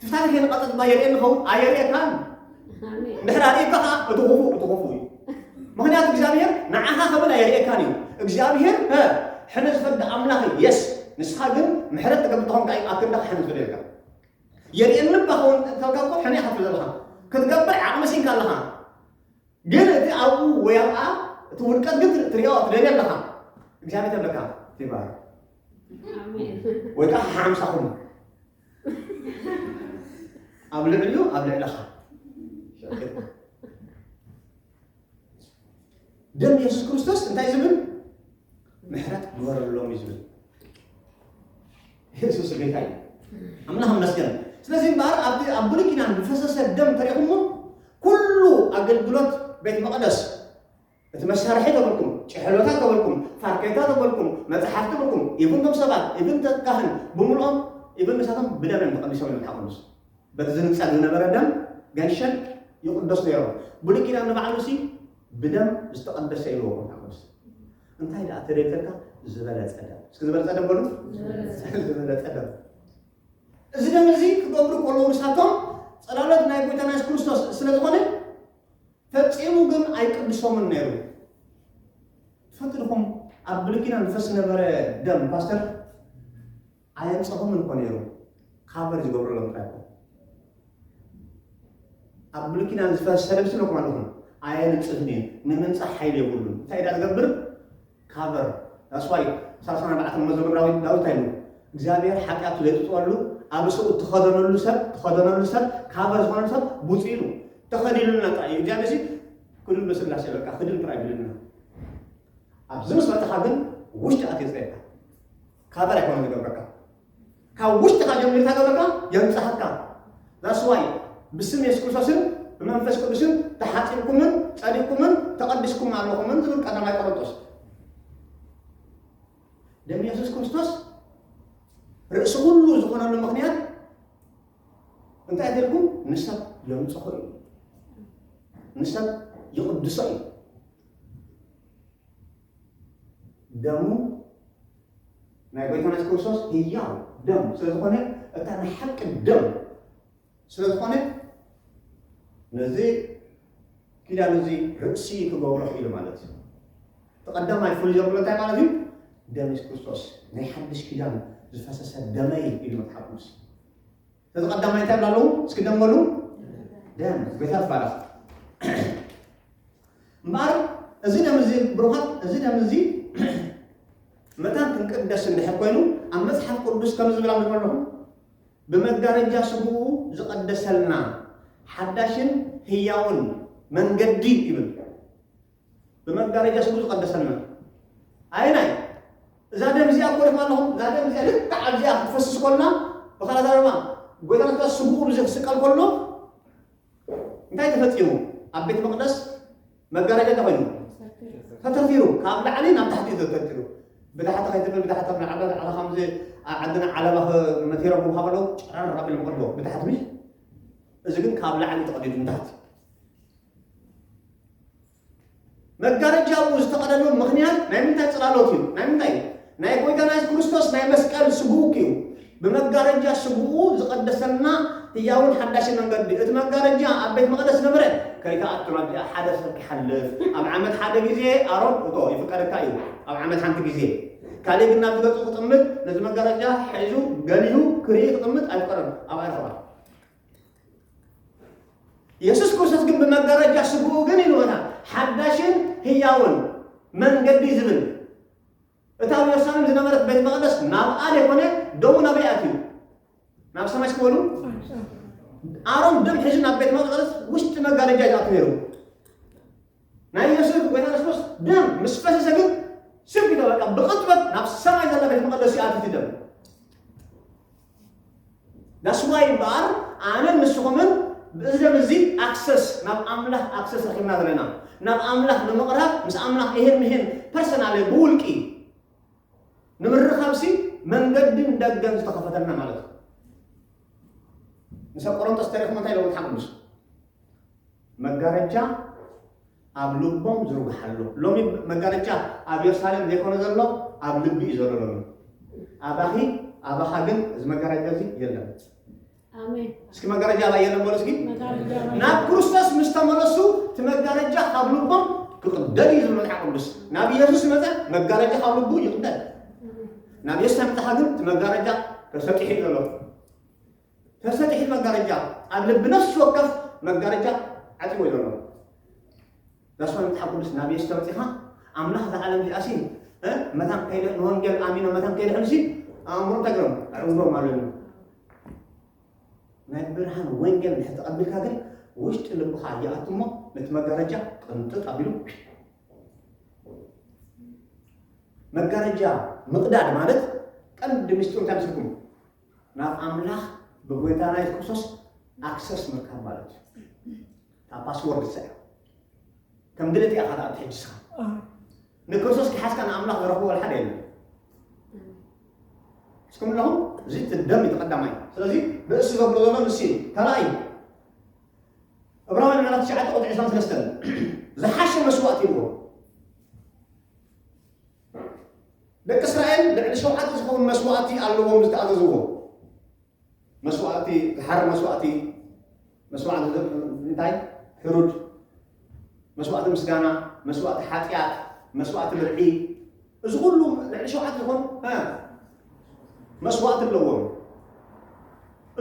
እቲ ታሪክ የንቐፅል ድማ የርእየኒ ኸውን ኣየርእየካን ድሕሪ ኣርእየካ ከዓ እቲ ክፉእ እቲ ክፉእ እዩ ምክንያቱ እግዚኣብሔር ንዓኻ ክብል ኣየርእየካን እዩ እግዚኣብሔር እ ሕነ ዝፈርድ ኣምላኽ እዩ የስ ንስኻ ግን ምሕረት ትገብር ተኾንካ እዩ ኣብ ክንዳኻ ሕነ ዝፈርደልካ የርእየኒ እባ ኸውን ተልካ እኮ ሕነ ኢኻ ትብል ዘለኻ ክትገብር ዓቕሚ ሲንካ ኣለኻ ግን እቲ ኣብኡ ወይ ኣብኣ እቲ ውድቀት ግን ትሪኦ ትደልዮ ኣለኻ እግዚኣብሔር ተብለካ ይባል ወይ ከዓ ሓምሳ ኩኑ ኣብ ልዕሊኡ ኣብ ልዕለኻ ሸቂጥና ደም የሱስ ክርስቶስ እንታይ ዝብል ምሕረት ግበረሎም እዩ ዝብል ኢየሱስ ጌታ እዩ። ኣምላኽ ይመስገን። ስለዚህ እምበኣር ኣብ ኣብ ብሉይ ኪዳን ዝፈሰሰ ደም ተሪኹሞ ኩሉ ኣገልግሎት ቤት መቕደስ እቲ መሳርሒ ተበልኩም ጭሕሎታት ተበልኩም ፋርኬታ ተበልኩም መፅሓፍ ተበልኩም ኢብን ቶም ሰባት ኢብን ተካህን ብምልኦም ኢብን ንሳቶም ብደመን ተቐዲሶም እዮም ሓቁንስ በቲ ዝንፀግ ዝነበረ ደም ገንሸን ይቕደሱ ነይሮም ብሉይ ኪዳን ንባዕሉ ሲ ብደም ዝተቐደሰ ኢልዎ ሓቁንስ እንታይ ደኣ ተደይተልካ ዝበለፀ ደም እስኪ ዝበለፀ ደም በሉ ዝበለፀ ደም እዚ ደም እዚ ክገብሩ ከለዉ ንሳቶም ፀላሎት ናይ ጎይታና የሱስ ክርስቶስ ስለ ዝኾነ ፈፂሙ ግን ኣይቅድሶምን ነይሩ ትፈልጡ ድኹም ኣብ ብሉይ ኪዳን ዝፈስ ነበረ ደም ፓስተር ኣየምጸኹምን እኮ ነይሮም ካቨር ዝገብርሎም ጥራይ እኮ ኣብ ብሉይ ኪዳን ዝፈሰሰ ልብሲ ኢልኩም ኣለኹም ኣየንጽህን እዩ ንምንጻህ ሓይሊ የብሉን እንታይ ዳ ዝገብር ካቨር ዳስዋይ ሳልሳን ኣርባዕተን መዘሙር ዳዊት ዳዊት ኣይሉ እግዚኣብሔር ሓጢኣቱ ዘይጥጥወሉ ኣብ ሰኡ እትኸደነሉ ሰብ ትኸደነሉ ሰብ ካቨር ዝኾነ ሰብ ቡፅ ኢሉ ተኸዲሉና ጥራይ እዩ እግዚኣብሔር ሲ ክድን በስላሴ በቃ ክድን ጥራይ ብልና ኣብዚ ምስ መጣኻ ግን ውሽጢ ኣትየፅረካ ካበር ኣይኮነን ዝገብረካ ካብ ውሽጥካ ጀሚርካ ገብረካ የንጽሃካ ዛስዋይ ብስም የሱስ ክርስቶስን ብመንፈስ ቅዱስን ተሓጺብኩምን ጸዲብኩምን ተቐዲስኩም ኣለኹምን ዝብል ቀዳማይ ቆሮንቶስ ደም የሱስ ክርስቶስ ርእሲ ኩሉ ዝኾነሉ ምክንያት እንታይ ጌርኩም ንሰብ የንጽሆ እዩ ንሰብ ይቕድሶ እዩ ደሙ ናይ ጎይታና የሱስ ክርስቶስ ህያው ደም ስለ ዝኾነ እታ ናይ ሓቂ ደም ስለ ዝኾነ ነዚ ኪዳን እዚ ርእሲ ክገብሮ ኢሉ ማለት እዩ እቲ ቀዳማይ ፍሉይ ዘብሎ እንታይ ማለት እዩ ደም የሱስ ክርስቶስ ናይ ሓድሽ ኪዳን ዝፈሰሰ ደመይ ኢሉ መጽሓፍ ቅዱስ ነዚ ቀዳማይ እንታይ ብላ ኣለዉ እስኪ ደም በሉ ደም ጎይታ ትባረኽ እምበኣር እዚ ደም እዚ ብሩኻት እዚ ደም እዚ መታን ክንቅደስ እንድሕር ኮይኑ ኣብ መፅሓፍ ቅዱስ ከም ዝብል ኣምልኮ ኣለኹ ብመጋረጃ ስግኡ ዝቐደሰልና ሓዳሽን ህያውን መንገዲ ይብል ብመጋረጃ ስሙ ዝቐደሰና ኣየናይ እዛ ደም እዚኣ እኮ ድማ ኣለኹም እዛ ደም እዚኣ ልክዕ ኣብዚኣ ክትፈስስ ኮልና ብኻልእ ኣዛረባ ጎይታና ስጋ ስቡኡ ብዚ ክስቀል ከሎ እንታይ ተፈፂሙ ኣብ ቤተ መቅደስ መጋረጃ እንታይ ኮይኑ ተተርቲሩ ካብ ላዕሊ ናብ ታሕቲ እዩ ተተርቲሩ ብታሕቲ ከይትብል ብታሕቲ ኣብ ላዕሊ ላዕሊ ከምዚ ኣብ ዓድና ዓለባ መቴሮም ክብሃ ከለዉ ጨረር ኣቢሎም ቀድዎ ብታሕቲ ምሽ እዚ ግን ካብ ላዕሊ ተቐዲዱ ንታሕቲ መጋረጃ ኣብኡ ዝተቐደሉ ምኽንያት ናይ ምንታይ ጽላሎት እዩ? ናይ ምንታይ እዩ? ናይ ጎይታና የሱስ ክርስቶስ ናይ መስቀል ስግኡ እዩ። ብመጋረጃ ስግኡ ዝቐደሰልና ህያውን ሓዳሽን መንገዲ እቲ መጋረጃ ኣብ ቤት መቕደስ ነበረ ከይተኣቱና እዚኣ ሓደ ሰብ ክሓልፍ ኣብ ዓመት ሓደ ግዜ ኣሮን እቶ ይፍቀደካ እዩ ኣብ ዓመት ሓንቲ ግዜ ካልእ ግን ናብቲ ገጹ ክጥምት ነዚ መጋረጃ ሒዙ ገሊሁ ክርኢ ክጥምት ኣይፍቀደን ኣብ ኣይረኽባ ኢየሱስ ክርስቶስ ግን ብመጋረጃ ስግኡ ግን ኢልወና ሓዳሽን ህያውን መንገዲ ዝብል እታ ኣብ ኢየሩሳሌም ዝነበረት ቤት መቕደስ ናብ ኣደ ኮነ ደሙ ናበይ ኣትዩ ናብ ሰማይ ስክበሉ ኣሮን ደም ሒዙ ናብ ቤት መቕደስ ውሽጢ መጋረጃ ይኣቱ ነይሩ ናይ ዮሴፍ ጎይታ የሱስ ክርስቶስ ደም ምስ ፈሰሰ ግን ስብ ኢለ በቃ ብቕጥበት ናብ ሰማይ ዘላ ቤት መቐደስ ይኣቲ እቲ ደም ዳስዋይ እምበኣር ኣነን ንስኹምን ብእዚ ደም እዚ ኣክሰስ ናብ ኣምላኽ ኣክሰስ ረኪብና ዘለና ናብ ኣምላኽ ንምቕራብ ምስ ኣምላኽ ይሄን ምሄን ፐርሰናል ብውልቂ ንምርኻብሲ መንገድን ደገን ዝተኸፈተልና ማለት እዩ ምስ ኣብ ቆሮንጦስ ተሪኽሞ እንታይ ኢሎም መፅሓፍ ቅዱስ መጋረጃ ኣብ ልቦም ዝርጉሓሉ። ሎሚ መጋረጃ ኣብ የሩሳሌም ዘይኮነ ዘሎ ኣብ ልቢ እዩ ዘሎ ሎሚ። ኣባኺ ኣባኻ ግን እዚ መጋረጃ እዚ የለን። ኣሜን እስኪ መጋረጃ ኣባይ የለን በሉ እስኪ። መጋረጃ ኣባይ ናብ ክርስቶስ ምስ ተመለሱ እቲ መጋረጃ ካብ ልቦም ክቕደድ እዩ ዝብል መጽሓፍ ቅዱስ። ናብ ኢየሱስ መጸ መጋረጃ ካብ ልቡ ይቕደድ። ናብ ኢየሱስ ኣምጣኻ ግን እቲ መጋረጃ ተሰጢሑ እዩ ዘሎ። ተሰጢሑ መጋረጃ ኣብ ልቢ ነፍሲ ወከፍ መጋረጃ ዓጽይዎ ዘሎ ዳስዋ መጽሓፍ ቅዱስ ናብ የሱስ ተመጺኻ ኣምላኽ ዝዓለም ዚኣሲን መታን ከይደ ንወንጌል ኣሚኖ መታን ከይደሕምሲ ኣእምሮ ተግሮም ኣዕውዶም ኣለሉ ናይ ብርሃን ወንጌል ድሕር ተቐቢልካ ግን ውሽጢ ልብኻ ይኣቱ እሞ ነቲ መጋረጃ ቅንጥጥ ኣቢሉ መጋረጃ ምቕዳድ ማለት ቀንዲ ምስጢሩ እንታይ ምስልኩም ናብ ኣምላኽ ብጎይታና የሱስ ክርስቶስ ኣክሰስ ምርካብ ማለት እዩ እታ ፓስወርድ ሰ ከም ድልት እያ ካዳ ኣብቲ ሕጅስኻ ንክርስቶስ ክሓዝካ ንኣምላኽ ዝረኽቦ ሓደ የለን እስኩም ኣለኹም እዚ ትደም እዩ ተቐዳማይ ስለዚ ብእሲ ዘብሎ ዘሎ ንሲ እዩ ካልኣይ እብራውያን ምዕራፍ ትሽዓተ ቁጥሪ ዕስራን ሰለስተን ዝሓሸ መስዋእቲ ይብዎ ደቂ እስራኤል ልዕሊ ሸውዓተ ዝኸውን መስዋእቲ ኣለዎም ዝተኣዘዝዎ መስዋእቲ ዝሓር መስዋእቲ መስዋእቲ እንታይ ሕሩድ መስዋእቲ ምስጋና መስዋእቲ ሓጢኣት መስዋእቲ ብርዒ እዚ ኩሉ ልዕሊ ሸውዓተ ዝኾኑ መስዋእቲ ኣለዎም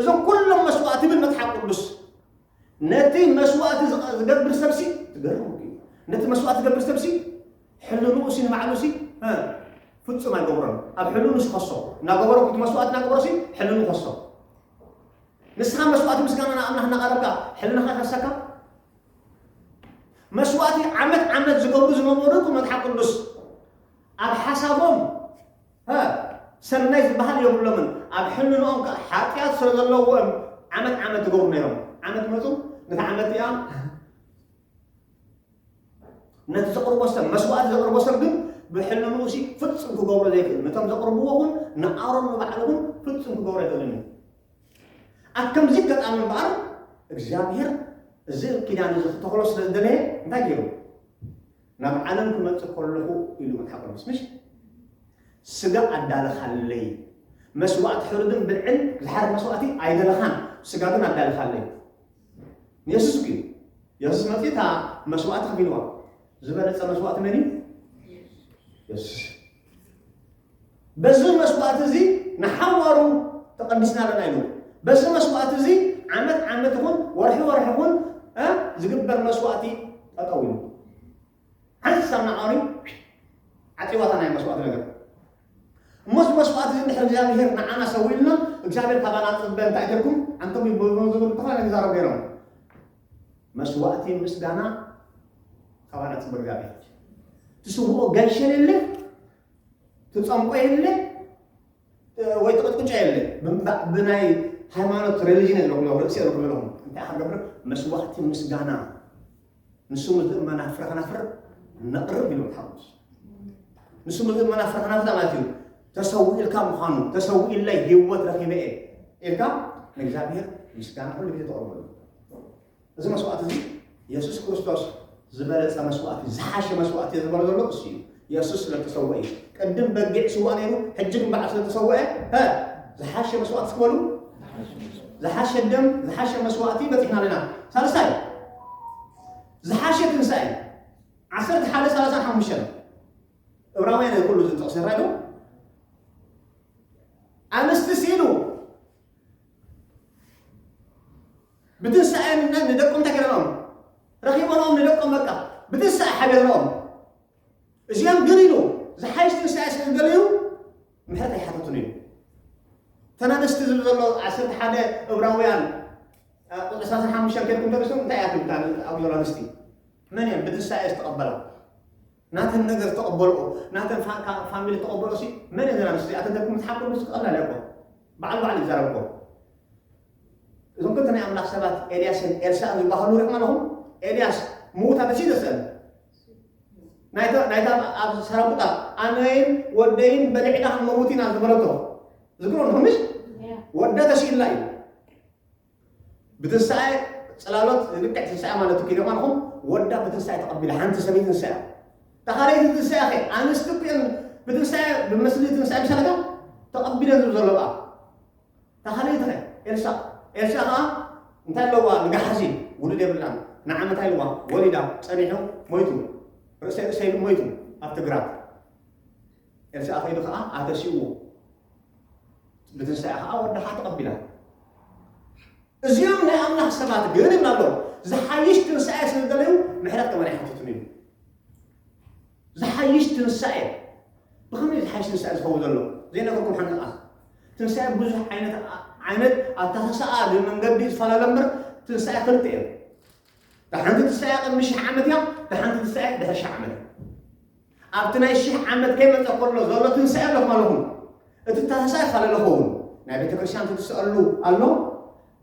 እዞም ኩሎም መስዋእቲ ብል መፅሓፍ ቅዱስ ነቲ መስዋእቲ ዝቐ- ዝገብር ሰብሲ ትገርሙ እዩ። ነቲ መስዋእቲ ዝገብር ሰብሲ ሕልንኡሲ ንባዕሉሲ እ፣ ፍጹም ኣይገብሮን ኣብ ሕልኑ ዝኸሶ እናገበሮ እቲ መስዋእቲ እናገበሮሲ ሕልኑ ከሶ ንስኻ መስዋእቲ ምስጋና ንኣምላኽ እናቐረብካ ሕልናኻ ከሰካ መስዋእቲ ዓመት ዓመት ዝገብሩ ዝነበሩ እኮ መጽሓፍ ቅዱስ ኣብ ሓሳቦም ፐ ሰናይ ዝበሃል የብሎምን፣ ኣብ ሕልንኦም ከኣ ሓጢኣት ስለ ዘለዎ እዮም ዓመት ዓመት ዝገብሩ ነይሮም። ዓመት መጹ፣ ነታ ዓመት እቲኣ ነቲ ዘቕርቦ ሰብ መስዋእቲ ዘቕርቦ ሰብ ግን ብሕልንኡ ሲ ፍጹም ክገብሮ ዘይክእል ነቶም ዘቕርብዎ እውን ንኣሮን ንባዕሉ እውን ፍጹም ክገብሮ ኣይክእልን እዩ። ኣብ ከምዚ ገጣሚ እምበኣር እግዚኣብሄር እዚ ኪዳን እዚ ክተኽሎ ስለ ዝደለየ እንታይ ገይሩ? ናብ ዓለም ክመጽእ ከለኹ ኢሉ መጽሓፍ ቅዱስ ምሽ ስጋ ኣዳለኻለይ መስዋእቲ ሕሩድን ብልዕን ዝሓርድ መስዋእቲ ኣይደለኻን ስጋ ግን ኣዳለኻለይ ንየሱስ እዩ የሱስ መፅኡ እታ መስዋእቲ ከፊልዋ ዝበለፀ መስዋእቲ መን እዩ የሱስ በዚ መስዋእቲ እዚ ንሓዋሩ ተቐዲስና ኣለና ኢሉ። በዚ መስዋእቲ እዚ ዓመት ዓመት ይኹን ወርሒ ወርሒ ይኹን እ ዝግበር መስዋእቲ ጠጠው ኢሉ ሓንስ ኣብ ናዓሪ ዓፂዋታ ናይ መስዋእቲ ነገር እሞ እዚ መስዋእቲ እዚ ድሕሪ እግዚኣብሄር ንዓና ሰው ኢልና እግዚኣብሄር ካባና ፅበ እንታይ ተልኩም ኣንቶም ይብሉ ዝብሉ ተፋለ ይዛረቡ ነይሮም መስዋእቲ ምስጋና ካባና ፅበ እግዚኣብሄር ትስውኦ ገልሸልልህ ትጸምቆ የለ ወይ ትቕጥቅጮ የለ ብናይ ሃይማኖት ሬሊጅን የለኹም ርእሲ የለኹም ኣለኹም እንታይ ሓገብር መስዋዕቲ ምስጋና ንሱ ምልእ መናፍረ ከናፍር ነቕርብ ኢሉ ሓሙስ ንሱ ምልእ መናፍረ ከናፍር ማለት እዩ ተሰው ኢልካ ምዃኑ ተሰው ኢለይ ህይወት ረኺበ እየ ኢልካ ንእግዚኣብሔር ምስጋና ኩሉ ግዜ ተቕርበሉ እዚ መስዋእቲ እዚ የሱስ ክርስቶስ ዝበለጸ መስዋእቲ እዩ፣ ዝሓሸ መስዋእቲ እየ ዝበሎ ዘሎ እሱ እዩ። የሱስ ስለ እተሰውአ እዩ። ቅድም በጊዕ ይስዋእ ነይሩ፣ ሕጂ ግን በዓል ስለ እተሰውአ ሀ፣ ዝሓሸ መስዋእቲ እስኪ በሉ። ዝሓሸ ደም፣ ዝሓሸ መስዋእቲ በፂሕና ኣለና። ሳልሳይ ዝሓሸ ትንሳኤ እዩ። ዓሰርተ ሓደ ሰላሳን ሓሙሽተን ዕብራውያን እዩ ኩሉ እዚ ጥቕሲ ይረኣይ ዶ? ኣንስቲ ሲሉ ብትንሳኤ ምነት ንደቆም እንታይ ገይረናኦም ረኺቦናኦም ንደቆም በቃ ብትንሳኤ ሓቢርናኦም እዚኦም ግን ኢሉ ዝሓይሽ ትንሳኤ ስለ ዝደለዩ ምሕረት ኣይሓተቱን እዩ ተናደስቲ ዝብል ዘሎ ዓሰርተ ሓደ እብራውያን ቁፅሪ ሰላሳ ሓሙሽተ ከይድኩም ተርእሱ እንታይ እያ ትብል ኣብኡ ዘሎ ኣንስቲ መን እየን ብትንሳኤ ዝተቐበላ ናተን ነገር ተቀበልኦ ናተን ፋሚሊ ተቀበልኦ ሲ መን እየን ኣንስቲ እዚኣተን ደኩም ትሓቁ ስ ቀላል እያ እኮ በዓል በዓል ይዛረብ እኮ እዞም ክልተ ናይ ኣምላኽ ሰባት ኤልያስን ኤልሳእን ዝበሃሉ ሪኹም ኣለኹም ኤልያስ ምዉት ኣነሲ ዘሰለ ናይታ ኣብ ሰራቁታ ኣነይን ወደይን በልዕና ክንመውት ኢና ዝበለቶ ዝግሮ ንኹምሽ ወዳ ተሲእላ እዩ ብትንሳኤ ጽላሎት ልክዕ ትንሳኤ ማለት እኮ ኢሎም ኣልኹም ወዳ ብትንሳኤ ተቐቢላ ሓንቲ ሰበይቲ ትንሳኤ እታ ካልኣይቲ ትንሳኤ ከ ኣንስቲ እኮ እየን ብትንሳኤ ብመስሊ ትንሳኤ ምሳለታ ተቐቢለን ዝብ ዘሎ ቃ እታ ካልኣይቲ ከ ኤልሳ ኤልሳ ከዓ እንታይ ኣለዋ ንጋሓሲ ውሉድ የብላን ንዓመታ ኢልዋ ወሊዳ ጸኒሑ ሞይቱ ርእሰይ ርእሰይ ኢሉ ሞይቱ ኣብ ትግራት ኤልሳ ከይዱ ከዓ ኣተሲኡ ብትንሳኤ ከዓ ወድሓ ተቐቢላ እዚኦም ናይ ኣምላኽ ሰባት ግን ይብላ ኣሎ ዝሓይሽ ትንሳኤ ስለ ዝደለዩ ምሕረት ከመን ኣይሓትቱን እዩ ዝሓይሽ ትንሳኤ ብኸመይ ዝሓይሽ ትንሳኤ ዝኸውን ዘሎ ዘይነገርኩም ሓንቲ ቃል ትንሳኤ ብዙሕ ዓይነት ዓይነት ኣተሓሳኣ መንገዲ ዝፈላለ እምበር ትንሳኤ ክልተ እዮም ድሓንቲ ትንሳኤ ቅድሚ ሽሕ ዓመት እያ ድሓንቲ ትንሳኤ ድሕሪ ሽሕ ዓመት እያ ኣብቲ ናይ ሽሕ ዓመት ከይመጸ ከሎ ዘሎ ትንሳኤ ኣሎ ማለኹም እቲ ታህሳኤ ካለ ለኸውን ናይ ቤተ ክርስቲያን ትትስኣሉ ኣሎ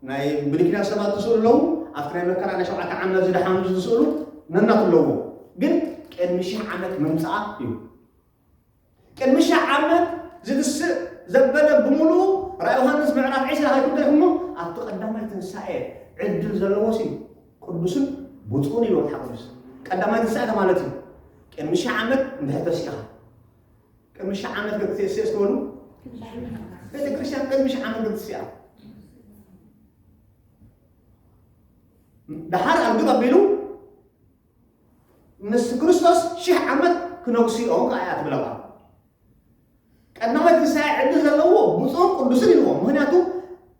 ናይ ብድኪና ሰባት ትስእሉ ኣለዉ ኣብቲ ናይ መከራ ናይ ሸውዓተ ዓመት ዝደሓኑ ዝስእሉ ነናት ኣለዎ ግን ቅድሚ ሽሕ ዓመት ምምጽኣ እዩ ቅድሚ ሽሕ ዓመት ዝትስእ ዘበለ ብምሉ ራእይ ዮሃንስ ምዕራፍ 20 ሃይኩም ደርሞ ኣብቲ ቀዳማይ ትንሳኤ ዕድል ዘለዎ ሲዩ ቅዱስን ብፁዕን ኢሉ መጽሓፍ ቅዱስ ቀዳማይ ትንሣኤ ማለት እዩ ቅድሚ ሽሕ ዓመት እንድሕር ተሲኻ ቅድሚ ሽሕ ዓመት ክትስእስ ትበሉ ቤተ ክርስቲያን ቅድሚ ሽሕ ዓመት ክትስያ ድሓር ኣግብ ኣቢሉ ምስ ክርስቶስ ሽሕ ዓመት ክነግስኦ ከዓ እያ ትብለባ ቀዳማይ ትንሳኤ ዕድል ዘለዎ ብፁዕን ቅዱስን ኢልዎ ምክንያቱ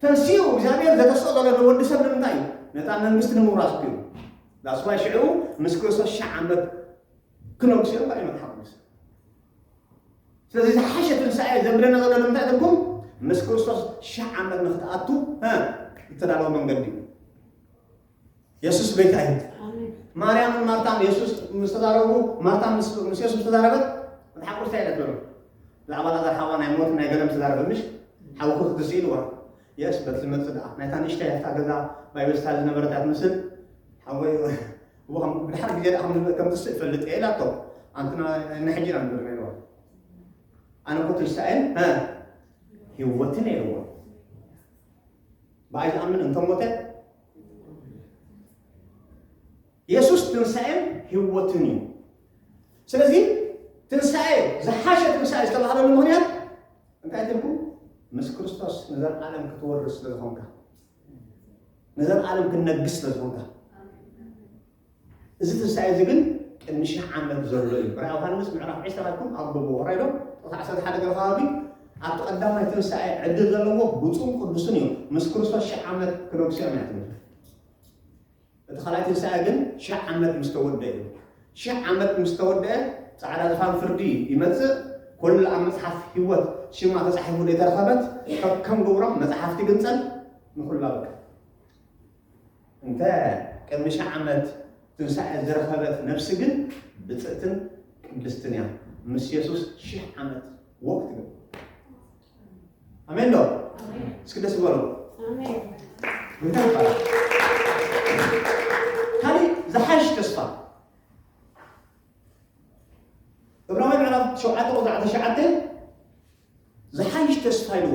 ተንሲኡ እግዚኣብሔር ዘተስኦ ዘሎ ንወዲ ሰብ ንምንታይ እዩ ነታ መንግስቲ ንምውራስ እዩ ዳስዋይ ሽዑ ምስ ክርስቶስ ሽሕ ዓመት ክነግሱ እዮም ባይ መጽሓፍ ቅዱስ ስለዚ ዝሓሸ ትንሳኤ ዘብለና ዘሎ ንምንታይ ትርጉም ምስ ክርስቶስ ሽሕ ዓመት ንክትኣቱ ዝተዳለወ መንገዲ እዩ የሱስ ቤት ኣዩ ማርያምን ማርታን የሱስ ምስ ተዛረቡ ማርታ ምስ ምስ የሱስ ተዛረበት መጽሓፍ ቅዱስ እንታይ ይነግረና ብዛዕባ ላዛር ሓዋ ናይ ሞት ናይ ገለም ተዛረበ ምሽ ሓውኩ ክትስ ኢልዋ የስ በት ዝመጽእ ደኣ ናይታ ንእሽተይ ያታ ገዛ ባይብል ስታል ዝነበረት እያ ትምስል ሓወይ እዎ ከም ብድሓር ግዜ ደኣ ከም- ከም ትስእ እፈልጥ እየ ኢላቶ ኣንትና ንሕጂ ኢና ንብል ነይርዋ ኣነ እኮ ትንሳኤን እ ህይወትን ኢልዎ ብኣይ ዝኣምን እንተ ሞተ የሱስ ትንሣኤን ህይወትን እዩ ስለዚ ትንሣኤ ዝሓሸ ትንሣኤ ዝተባህለሉ ምክንያት እንታይ ትልኩ ምስ ክርስቶስ ንዘለዓለም ክትወርስ ስለ ዝኾንካ ንዘለዓለም ክትነግስ ስለ ዝኾንካ እዚ ትንሳኤ እዚ ግን ቅድሚ ሽሕ ዓመት ዘሎ እዩ። ራእይ ዮሃንስ ምዕራፍ ዕስራ ኢልኩም ኣንብቡ። ወራይ ዶ ጥቕሲ ዓሰርተ ሓደ ገለ ከባቢ ኣብቲ ቀዳማይ ትንሳኤ ዕድል ዘለዎ ብፁዕን ቅዱስን እዮም። ምስ ክርስቶስ ሽሕ ዓመት ክነግሱ እዮም እያ ትብል። እቲ ካልኣይ ትንሳኤ ግን ሽሕ ዓመት ምስ ተወድአ እዩ። ሽሕ ዓመት ምስ ተወድአ ጻዕዳ ዝፋን ፍርዲ ይመጽእ። ኩሉ ኣብ መጽሓፍ ህይወት ሽማ ተጻሒፉ ዘይተረኸበት ከከም ግብሮም መጽሓፍቲ ግንጸል ንኹሉ ኣብቅዕ። እንተ ቅድሚ ሽሕ ዓመት ትንሳኤ ዝረኸበት ነፍሲ ግን ብጽእትን ቅድስትን እያ ምስ የሱስ ሽሕ ዓመት ወቅ ትብል ኣሜን ዶ እስኪ ደስ በሉ እንታይ ይባላል ካሊእ ዝሓሽ ተስፋ እብራዊ ምዕራፍ ሸውዓተ ቁጥሪ ዓሰርተ ሸውዓተ ዝሓይሽ ተስፋ ይልዎ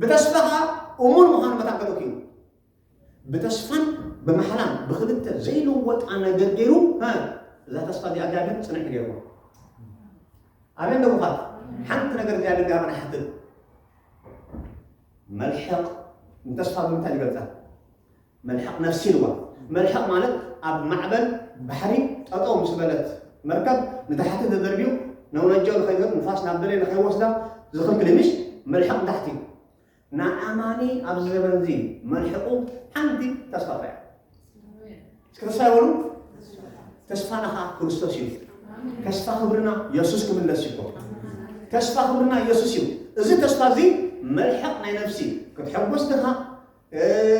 ብተስፋ ከኣ እሙን ምዃኑ መታን ከልኡት እዩ። ብተስፋን ብማሕላን ብክልተ ዘይልወጣ ነገር ገይሩ እዛ ተስፋ እዚኣ እዚኣ ግን ፅንዕ ገይርዎ ኣሜን ደቡኻት ሓንቲ ነገር እዚኣ ልጋብና ሓትት መልሕቕ ንተስፋ ብምንታይ ይገልፃ መልሕቕ ነፍሲ ኢልዋ። መልሕቕ ማለት ኣብ ማዕበል ባሕሪ ጠጠው ምስ በለት መርከብ ንታሕቲ ተደርብዩ ነውነጃው ንኸይዘር ንፋስ ናብ ደለየ ንኸይወስዳ ዝኽልክል ምሽ መልሕቕ ንታሕቲ እዩ። ንኣማኒ ኣብዚ ዘመን እዚ መልሕቑ ሓንቲ ተስፋ ጥራይ እስኪ ተስፋ ይበሉ ተስፋና ከዓ ክርስቶስ እዩ ተስፋ ክብርና የሱስ ክምለስ እዩ ተስፋ ክብርና የሱስ እዩ እዚ ተስፋ እዚ መልሕቕ ናይ ነፍሲ ክትሐጎስ ድኻ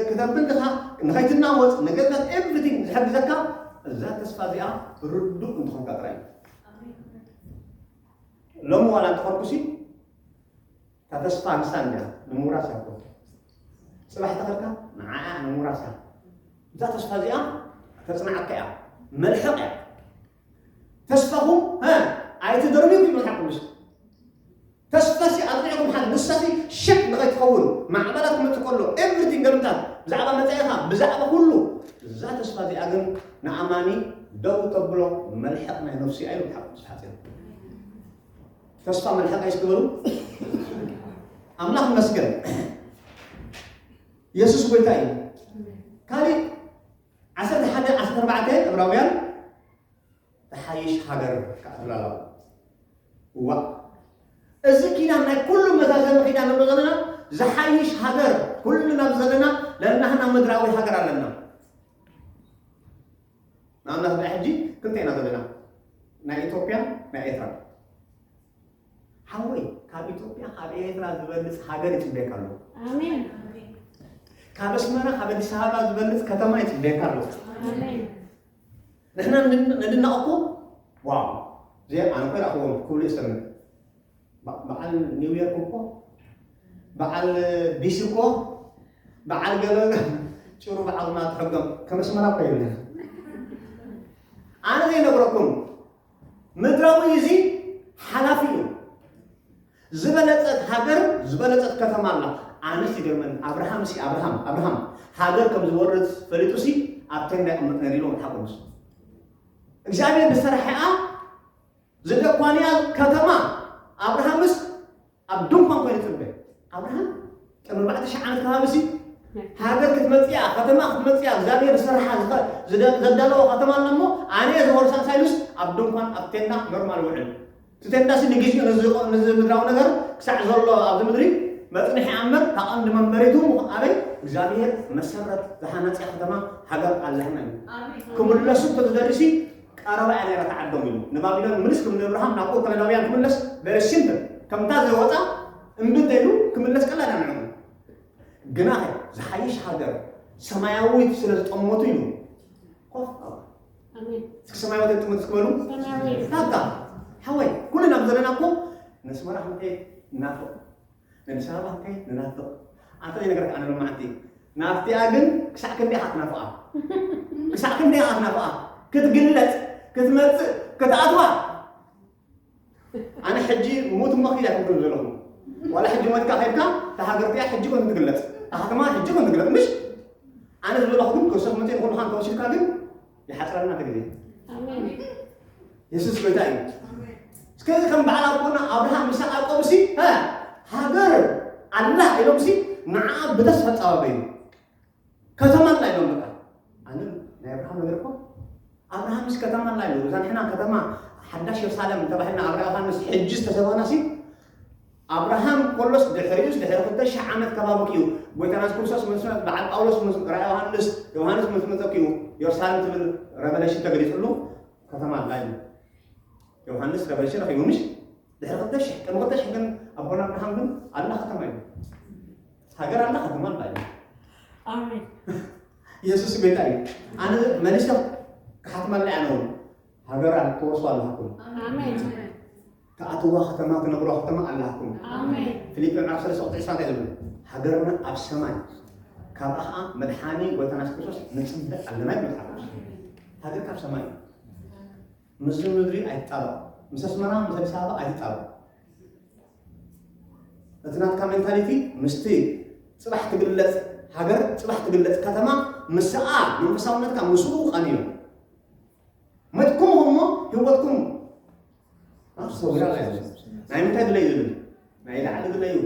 ክተብል ድኻ ንኸይትናወጽ ንገነት ኤቭሪቲንግ ዝሕግዘካ እዛ ተስፋ እዚኣ ርዱእ እንትኾንካ ጥራይ ሎሚ ዋላ እንተኾንኩሲ እታ ተስፋ ንሳ እንዲያ ንምውራስ እያ ኮ ፅባሕ ተኸልካ ንዓኣ ንምውራስ እያ እዛ ተስፋ እዚኣ ተፅናዓካ እያ መልሕቕ እያ ተስፋኹም ኣይትደርብዩ ክብል ሓቂ ምስ ተስፋሲ ኣጥዒኹም ሓል ንሳሲ ሸክ ንኸይትኸውን ማዕበላ ክመፅእ ከሎ ኤቭሪቲንግ ገምታት ብዛዕባ መፃኢኻ ብዛዕባ ኩሉ እዛ ተስፋ እዚኣ ግን ንኣማኒ ደው ተብሎ መልሕቕ ናይ ነፍሲ ኣዩ ሓቂ ምስ ሓፂር ተስፋ መልሕቕ ኣይ ስትበሉ ኣምላኽ ይመስገን የሱስ ጎይታ እዩ ካሊእ ዓሰርተ ሓደ ዓሰርተ ኣርባዕተ ዕብራውያን ትሓይሽ ሃገር ከዓ ትብላ ኣለዋ እዋእ እዚ ኪዳን ናይ ኩሉ መዛዘሚ ኪዳን ንብሎ ዘለና ዝሓይሽ ሃገር ኩሉ ናብ ዘለና ለናህና ምድራዊ ሃገር ኣለና ንኣብነት ብሕጂ ክንተ ኢና ዘለና ናይ ኢትዮጵያ ናይ ኤርትራ ሓወይ ካብ ኢትዮጵያ ካብ ኤርትራ ዝበልፅ ሃገር ይፅበየካ ኣሎ ኣሜን ካብ ኣስመራ ካብ ኣዲስ ኣበባ ዝበልፅ ከተማ ይፅበየካ ኣሎ ኣሜን ንሕና ንን- ንድነቐኩ ዋው ዘ ኣነ ኮ ይረኽቦም ክብሉ ይሰምዕ በ- በዓል ኒው ዮርክ እኮ በዓል ቢሲ እኮ በዓል ገለ ጭሩ በዓልና ትሕገም ከም ኣስመራ እኮ የብልና ኣነ ዘይነግረኩም ምድራዊ እዚ ሓላፊ እዩ። ዝበለጸት ሃገር ዝበለጸት ከተማ ኣላ ኣነስ ይገርመኒ ኣብርሃም ሲ ኣብርሃም ኣብርሃም ሃገር ከም ዝወርስ ፈሊጡ ሲ ኣብ ተንዳ ይቕመጥ ነይሩ ኢሉ መጽሓፍ ቅዱስ እግዚኣብሔር ዝሰርሐኣ ዝደኳንያ ከተማ ኣብርሃምስ ኣብ ድንኳን ኮይኑ ተንበየ። ኣብርሃም ቅድሚ ኣርባዕተ ሽሕ ዓመት ከባቢ ሲ ሃገር ክትመጽኣ ከተማ ክትመጽኣ እግዚኣብሔር ዝሰርሓ ዝኸ- ዝደ- ዘዳለዎ ከተማ ኣላ እሞ ኣነ እየ ዝወርሳ ሳይሉስ ኣብ ድንኳን ኣብ ቴንዳ ኖርማል ውዕል እቲ ቴንዳ ሲ ንግዚኡ ነዚ ቆ- ነዚ ምድራዊ ነገር ክሳዕ ዘሎ ኣብዚ ምድሪ መጽንሒ ኣምበር እታ ቀንዲ መንበሪቱ ምኹ- ኣበይ እግዚኣብሔር መሰረት ዝሃነጸ ከተማ ሃገር ኣብዛሕና እዩ ክምለሱ እንተዝደልዩ ሲ ቀረባ እያ ነይራ እታ ዓዶም ኢሉ ንባቢሎን ምልስ ክም ንእብርሃም ናብኡ ከለዳውያን ክምለስ very simple ከምታ ዘይወጻ እምቢ እንተኢሉ ክምለስ ቀላል እያ ንዕኡ ግናኸ ዝሓይሽ ሃገር ሰማያዊት ስለ ዝጠመቱ ኢሉ ኮፍ በሉ። ኣሜን እስኪ ሰማያዊት እትጥመት እስኪ በሉ ሰማያዊት ዳጋ ሓወይ ኩልና ብዘለና እኮ ነስመራ ክንከይድ እናፈ ነብሲ ኣምላከይ ንናፍቕ ኣንተ ዘይነገርካ ኣነ ሎማዓንቲ ናፍቲኣ ግን ክሳዕ ክንደይ ኢኻ ትናፍቓ ክሳዕ ክንደይ ኢኻ ትናፍቓ ክትግለጽ ክትመጽእ ክትኣትዋ ኣነ ሕጂ ሙት እሞ ክኢላ ትብል ዘለኹ ዋላ ሕጂ ሞትካ ከድካ እታ ሃገርቲያ ሕጂ ኮን ትግለጽ እታ ከተማ ሕጂ ኮን ትግለጽ ምሽ ኣነ ዝብለኹ ግን ክሰብ መፅን ኩሉ ካን ተወሲድካ ግን ይሓፅረና እቲ ግዜ የሱስ ጎይታ እዩ እስከዚ ከም በዓል ኣቦና ኣብርሃም ይስሐቅ ያዕቆብ ሲ ሃገር ኣላ ኢሎም ሲ ንዓ ብተስፋ ፃባበዩ ከተማ ኣላ ኢሎም በቃ ኣነ ናይ ኣብርሃም ነገር እኮ ኣብርሃምስ ከተማ ኣላ ኢሉ እዛ ንሕና ከተማ ሓዳሽ የሩሳሌም ተባሂልና ኣብ ራእይ ዮሃንስ ሕጂ ዝተሰባና ሲ ኣብርሃም ኮሎስ ድሕሪኡስ ድሕሪ ክልተ ሽሕ ዓመት ከባቢ ክዩ ጎይታና የሱስ ክርስቶስ ምስ በዓል ጳውሎስ ምስ ራእይ ዮሃንስ ዮሃንስ ምስ መጸ ክዩ ዮርሳሌም ትብል ረቨለሽን ተገሊጽሉ ከተማ ኣላ እዩ ዮሃንስ ረቨለሽን ረኺቡ ምሽ ድሕሪ ክልተ ሽሕ ቅድሚ ክልተ ሽሕ ግን ኣቦና ኣብርሃም ግን ኣላ ከተማ እዩ ሃገር ኣላ ከተማ ኣላ እዩ ኣሜን ኢየሱስ ጎይታ እዩ ኣነ መሊሰ ክሓትመላ እያ ነውን ሃገር ክወርሱ ኣለኩም ኣሜን ትኣትዋ ከተማ ትነብርዋ ከተማ ኣላትኩም። ፊልጵ ምዕራፍ ሰለስተ ቁጥሪ ዕስራ እንታይ ዝብል ሃገርና ኣብ ሰማይ ካብኣ ከዓ መድሓኒ ጎይታና የሱስ ክርስቶስ ንፅበ ኣለና ይብል መጽሓፍ ቅዱስ። ሃገር ካብ ሰማይ እዩ። ምስዚ ምድሪ ኣይትጣበቕ፣ ምስ ኣስመራ ምስ ኣዲስ ኣበባ ኣይትጣበቕ። እቲ ናትካ ሜንታሊቲ ምስቲ ፅባሕ ትግለፅ ሃገር ፅባሕ ትግለፅ ከተማ ምስኣ መንፈሳውነትካ ምስኡ ቃንዮ መትኩም እሞ ህይወትኩም ኣብ ሰውራ ላይ ናይ ምንታይ ግለ እዩ ዝብል ናይ ላዕሊ ግለ እዩ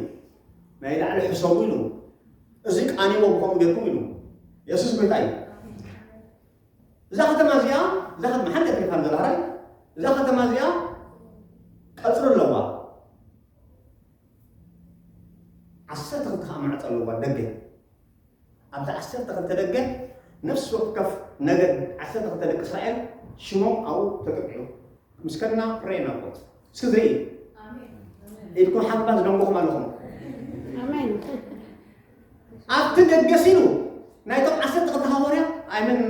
ናይ ላዕሊ ሕሰቡ ኢሉ እዚ ቃኒዎ ከምኡ ጌርኩም ኢሉ የሱስ ጎይታ እዩ እዛ ከተማ እዚኣ እዛ ከተማ ሓንቲ ከተማ ዘላራይ እዛ ከተማ እዚኣ ቀፅሪ ኣለዋ ዓሰርተ ክልተ ከዓ ማዕፆ ኣለዋ ደገ ኣብቲ ዓሰርተ ክልተ ደገ ነፍሲ ወከፍ ነገድ ዓሰርተ ክልተ ደቂ እስራኤል ሽሞም ኣብኡ ተጠቂዑ ምስ ከድና ፕሬ ናቦት እስኪ ዝርኢ ኢድኩም ሓባ ዝደንጎኹም ኣለኹም ኣብቲ ደገ ሲሉ ናይቶም ዓሰርተ ክልተ ሃዋርያ ኣይምን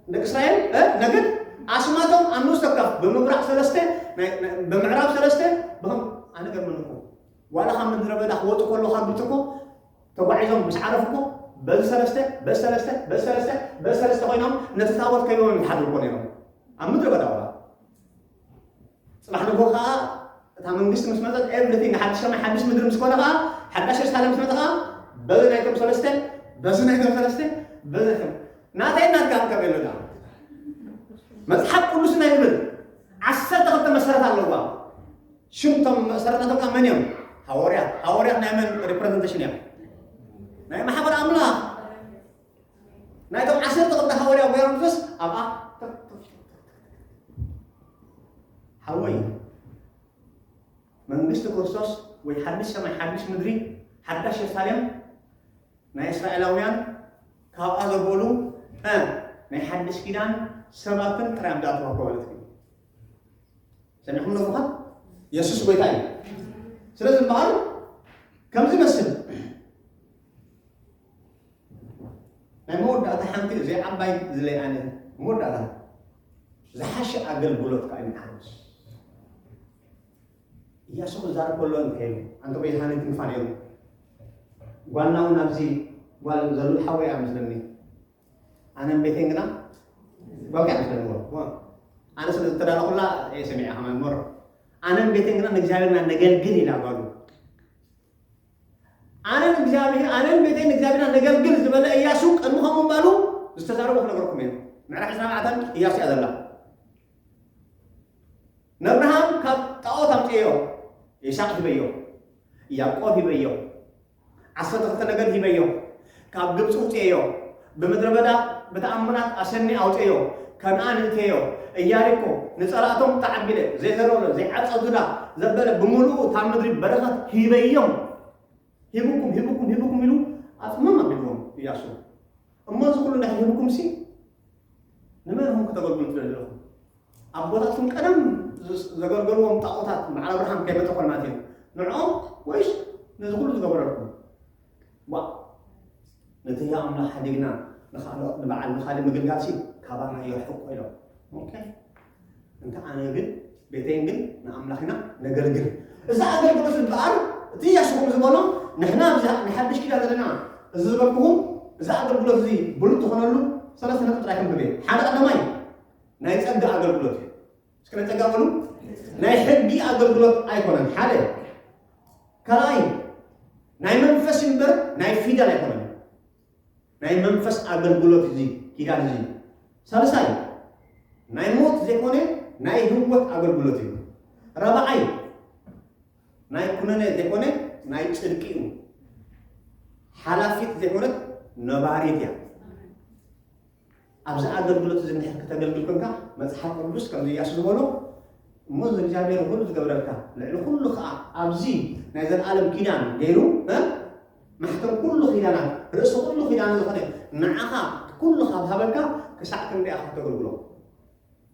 ደቂ እስራኤል እ ነገድ ኣስማቶም ኣብ ንኡስ ተካፍ ብምብራቕ ሰለስተ ናይ- ናይ- ብምዕራብ ሰለስተ ብኸም ኣነ ገርመንኹ ዋላ ካብ ምድረ በዳ ክወጡ ከሎ ካብ ብትኮ ተጓዒዞም ምስ ዓረፍኮ በዚ ሰለስተ በዚ ሰለስተ በዚ ሰለስተ በዚ ሰለስተ ኮይኖም ነቲ ታቦት ከይቦም እዮም ዝሓድሩ እኮ ነይሮም ኣብ ምድረ በዳ ዋላ ፅባሕ ንጎ ከዓ እታ መንግስቲ ምስ መፀት ኤቭሪቲንግ ሓድሽ ሰማይ ሓድሽ ምድሪ ምስ ኮነ ከዓ ሓዳሽ የሩሳሌም ምስ መፀ ከዓ በዚ ናይቶም ሰለስተ በዚ ናይቶም ሰለስተ በዚ ናይቶም ናተይ ናትካ ክከብ የለና መፅሓፍ ቅዱስና ይብል ዓሰርተ ክልተ መሰረት ኣለዋ ሽም እቶም መእሰሪ ናቶም ከኣ መን እዮም? ሃወርያት። ሃወርያት ናይ መን ሪፕረዘንቴሽን እዮም? ናይ ማሕበር ኣምላኽ ናይቶም ዓሰርተ ክልተ ሃወርያዊ ገይሩ ንፍስ ኣብኣ ሓወይ መንግስቲ ክርስቶስ ወይ ሓድሽ ሰማይ ሓድሽ ምድሪ ሓዳሽ የሩሳሌም ናይ እስራኤላውያን ካብኣ ዘበሉ እ ናይ ሓድሽ ኪዳን ሰባትን ጥራይ ኣምዳት ወኮ ማለት እዩ ሰሚዕኩም ዶ ምዃን የሱስ ጎይታ እዩ ስለ ዝበሃሉ ከምዚ መስል ናይ መወዳእታ ሓንቲ እዚ ዓባይ ዝለይ ኣነ መወዳእታ ዝሓሸ ኣገልግሎት ከዓ ይምሓርስ እያሱ ክዛረብ ከሎ እንተይሉ ኣንተ ጎይታነ ክንፋ ነይሩ ጓልና እውን ኣብዚ ጓል ዘሎ ሓወያ ምስለኒ ኣነን ቤተይን ግና ዋጋ ንፈልዎ ኣነ ስለ ዝተዳለኹላ እየ ሰሚዐ ከማን መሮ ኣነን ቤተይን ግና ንእግዚኣብሔርና ነገልግል ኢላ ጓሉ ኣነን እግዚኣብሔር ኣነን ቤተይን እግዚኣብሔርና ነገልግል ዝበለ እያሱ ቅድሚ ከምኡ ምባሉ ዝተዛረቦ ክነገርኩም እየ ምዕራፍ ዕስራ ኣርባዕተን እያሱ እያ ዘላ ነብርሃም ካብ ጣዖት ኣምፅዮ ይስሐቅ ሂበዮ ያዕቆብ ሂበዮ ዓሰርተ ክልተ ነገድ ሂበዮ፣ ካብ ግብጺ ኣውጽኤዮ፣ ብምድረ በዳ ብተኣምራት ኣሰንየ ኣውጽኤዮ፣ ከነኣን እእቴዮ፣ እያሪኮ ንጸላእቶም ተዓቢለ፣ ዘይዘረሎ ዘይዓጸ ዙዳ ዘበለ ብምሉኡ እታ ምድሪ በረኸት ሂበዮም፣ ሂብኩም ሂብኩም ሂብኩም ኢሉ ኣጽምም ኣቢልዎም እያሱ። እሞ እዚ ኩሉ እንድሕር ሂብኩምሲ ንመን ኢኹም ክተገልግሉ ትደልዩ ኣለኹም? ኣቦታትኩም ቀደም ዘገልገልዎም ጣዖታት በዓል ኣብርሃም ከይ በተኾልናት እዮም ንዕኦም ወይስ ነዚ ኩሉ ዝገበረልኩም ዋ ነቲ ህያ ኣምላኽ ሓዲግና ንኻልኦት ንበዓል ንኻልእ ምግልጋል ሲ ካባና የርሕቆ ኢሎም ኦኬ እንተ ኣነ ግን ቤተይን ግን ንኣምላኽ ኢና ነገልግል እዚ ኣገልግሎት ዝበሃል እቲ ያሽኹም ዝበሎ ንሕና ብዛ ንሓድሽ ኪዳን ዘለና እዚ ዝበልኩኹም እዚ ኣገልግሎት እዚ ብሉጥ ዝኾነሉ ሰለስተ ነጥቢ ጥራይ ክንብብ እየ ሓደ ቀዳማይ ናይ ጸጋ ኣገልግሎት እዩ እስከ ናይ ጸጋ በሉ ናይ ሕጊ ኣገልግሎት ኣይኮነን ሓደ ካልኣይ ናይ መንፈስ እምበር ናይ ፊደል ኣይኮነን ናይ መንፈስ ኣገልግሎት እዚ ኪዳን እዚ ሳልሳይ ናይ ሞት ዘይኮነ ናይ ህይወት ኣገልግሎት እዩ ራብዓይ ናይ ኩነነ ዘይኮነ ናይ ጽድቂ እዩ ሓላፊት ዘይኮነት ነባሪት እያ ኣብዚ ኣገልግሎት እዚ እንድሕር ክተገልግል ኮንካ መጽሓፍ ቅዱስ ከምዚ እያሱ ዝበሎ እሞ እግዚኣብሔር ንኹሉ ዝገብረልካ ልዕሊ ኩሉ ከዓ ኣብዚ ናይ ዘለኣለም ኪዳን ገይሩ እ ማሕተም ኩሉ ኪዳናት ርእሲ ኩሉ ኪዳን ዝኾነ ንዓኻ ኩሉ ካብ ሃበካ ክሳዕ ክንደይ ኢኻ ክተገልግሎ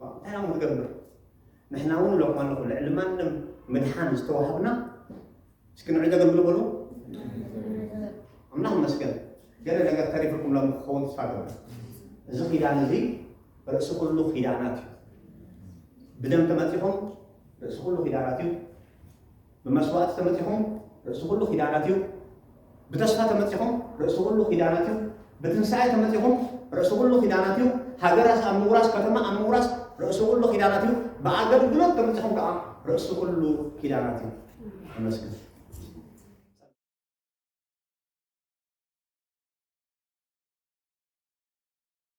እንታይ ኢና ክንገብር ንሕና እውን እለኩም ኣለኹ ልዕሊ ማንም ምድሓን ዝተዋህብና እስኪ ንዑ ዘገልግሉ በሉ ኣምላኽ መስገን ገለ ነገር ተሪፍኩም ሎም ክኸውን ተስፋ ገበ እዚ ኪዳን እዚ ርእሲ ኩሉ ኪዳናት እዩ ብደም ተመፂኹም ርእሲ ኩሉ ኪዳናት እዩ ብመስዋእቲ ተመጺኹም ርእሲ ኩሉ ኪዳናት እዩ። ብተስፋ ተመጺኹም ርእሲ ኩሉ ኪዳናት እዩ። ብትንሳኤ ተመጺኹም ርእሲ ኩሉ ኪዳናት እዩ። ሃገራት ኣብ ምውራስ ከተማ ኣብ ምውራስ ርእሲ ኩሉ ኪዳናት እዩ። ብኣገልግሎት ተመጺኹም ከዓ ርእሲ ኩሉ ኪዳናት እዩ። ተመስገን።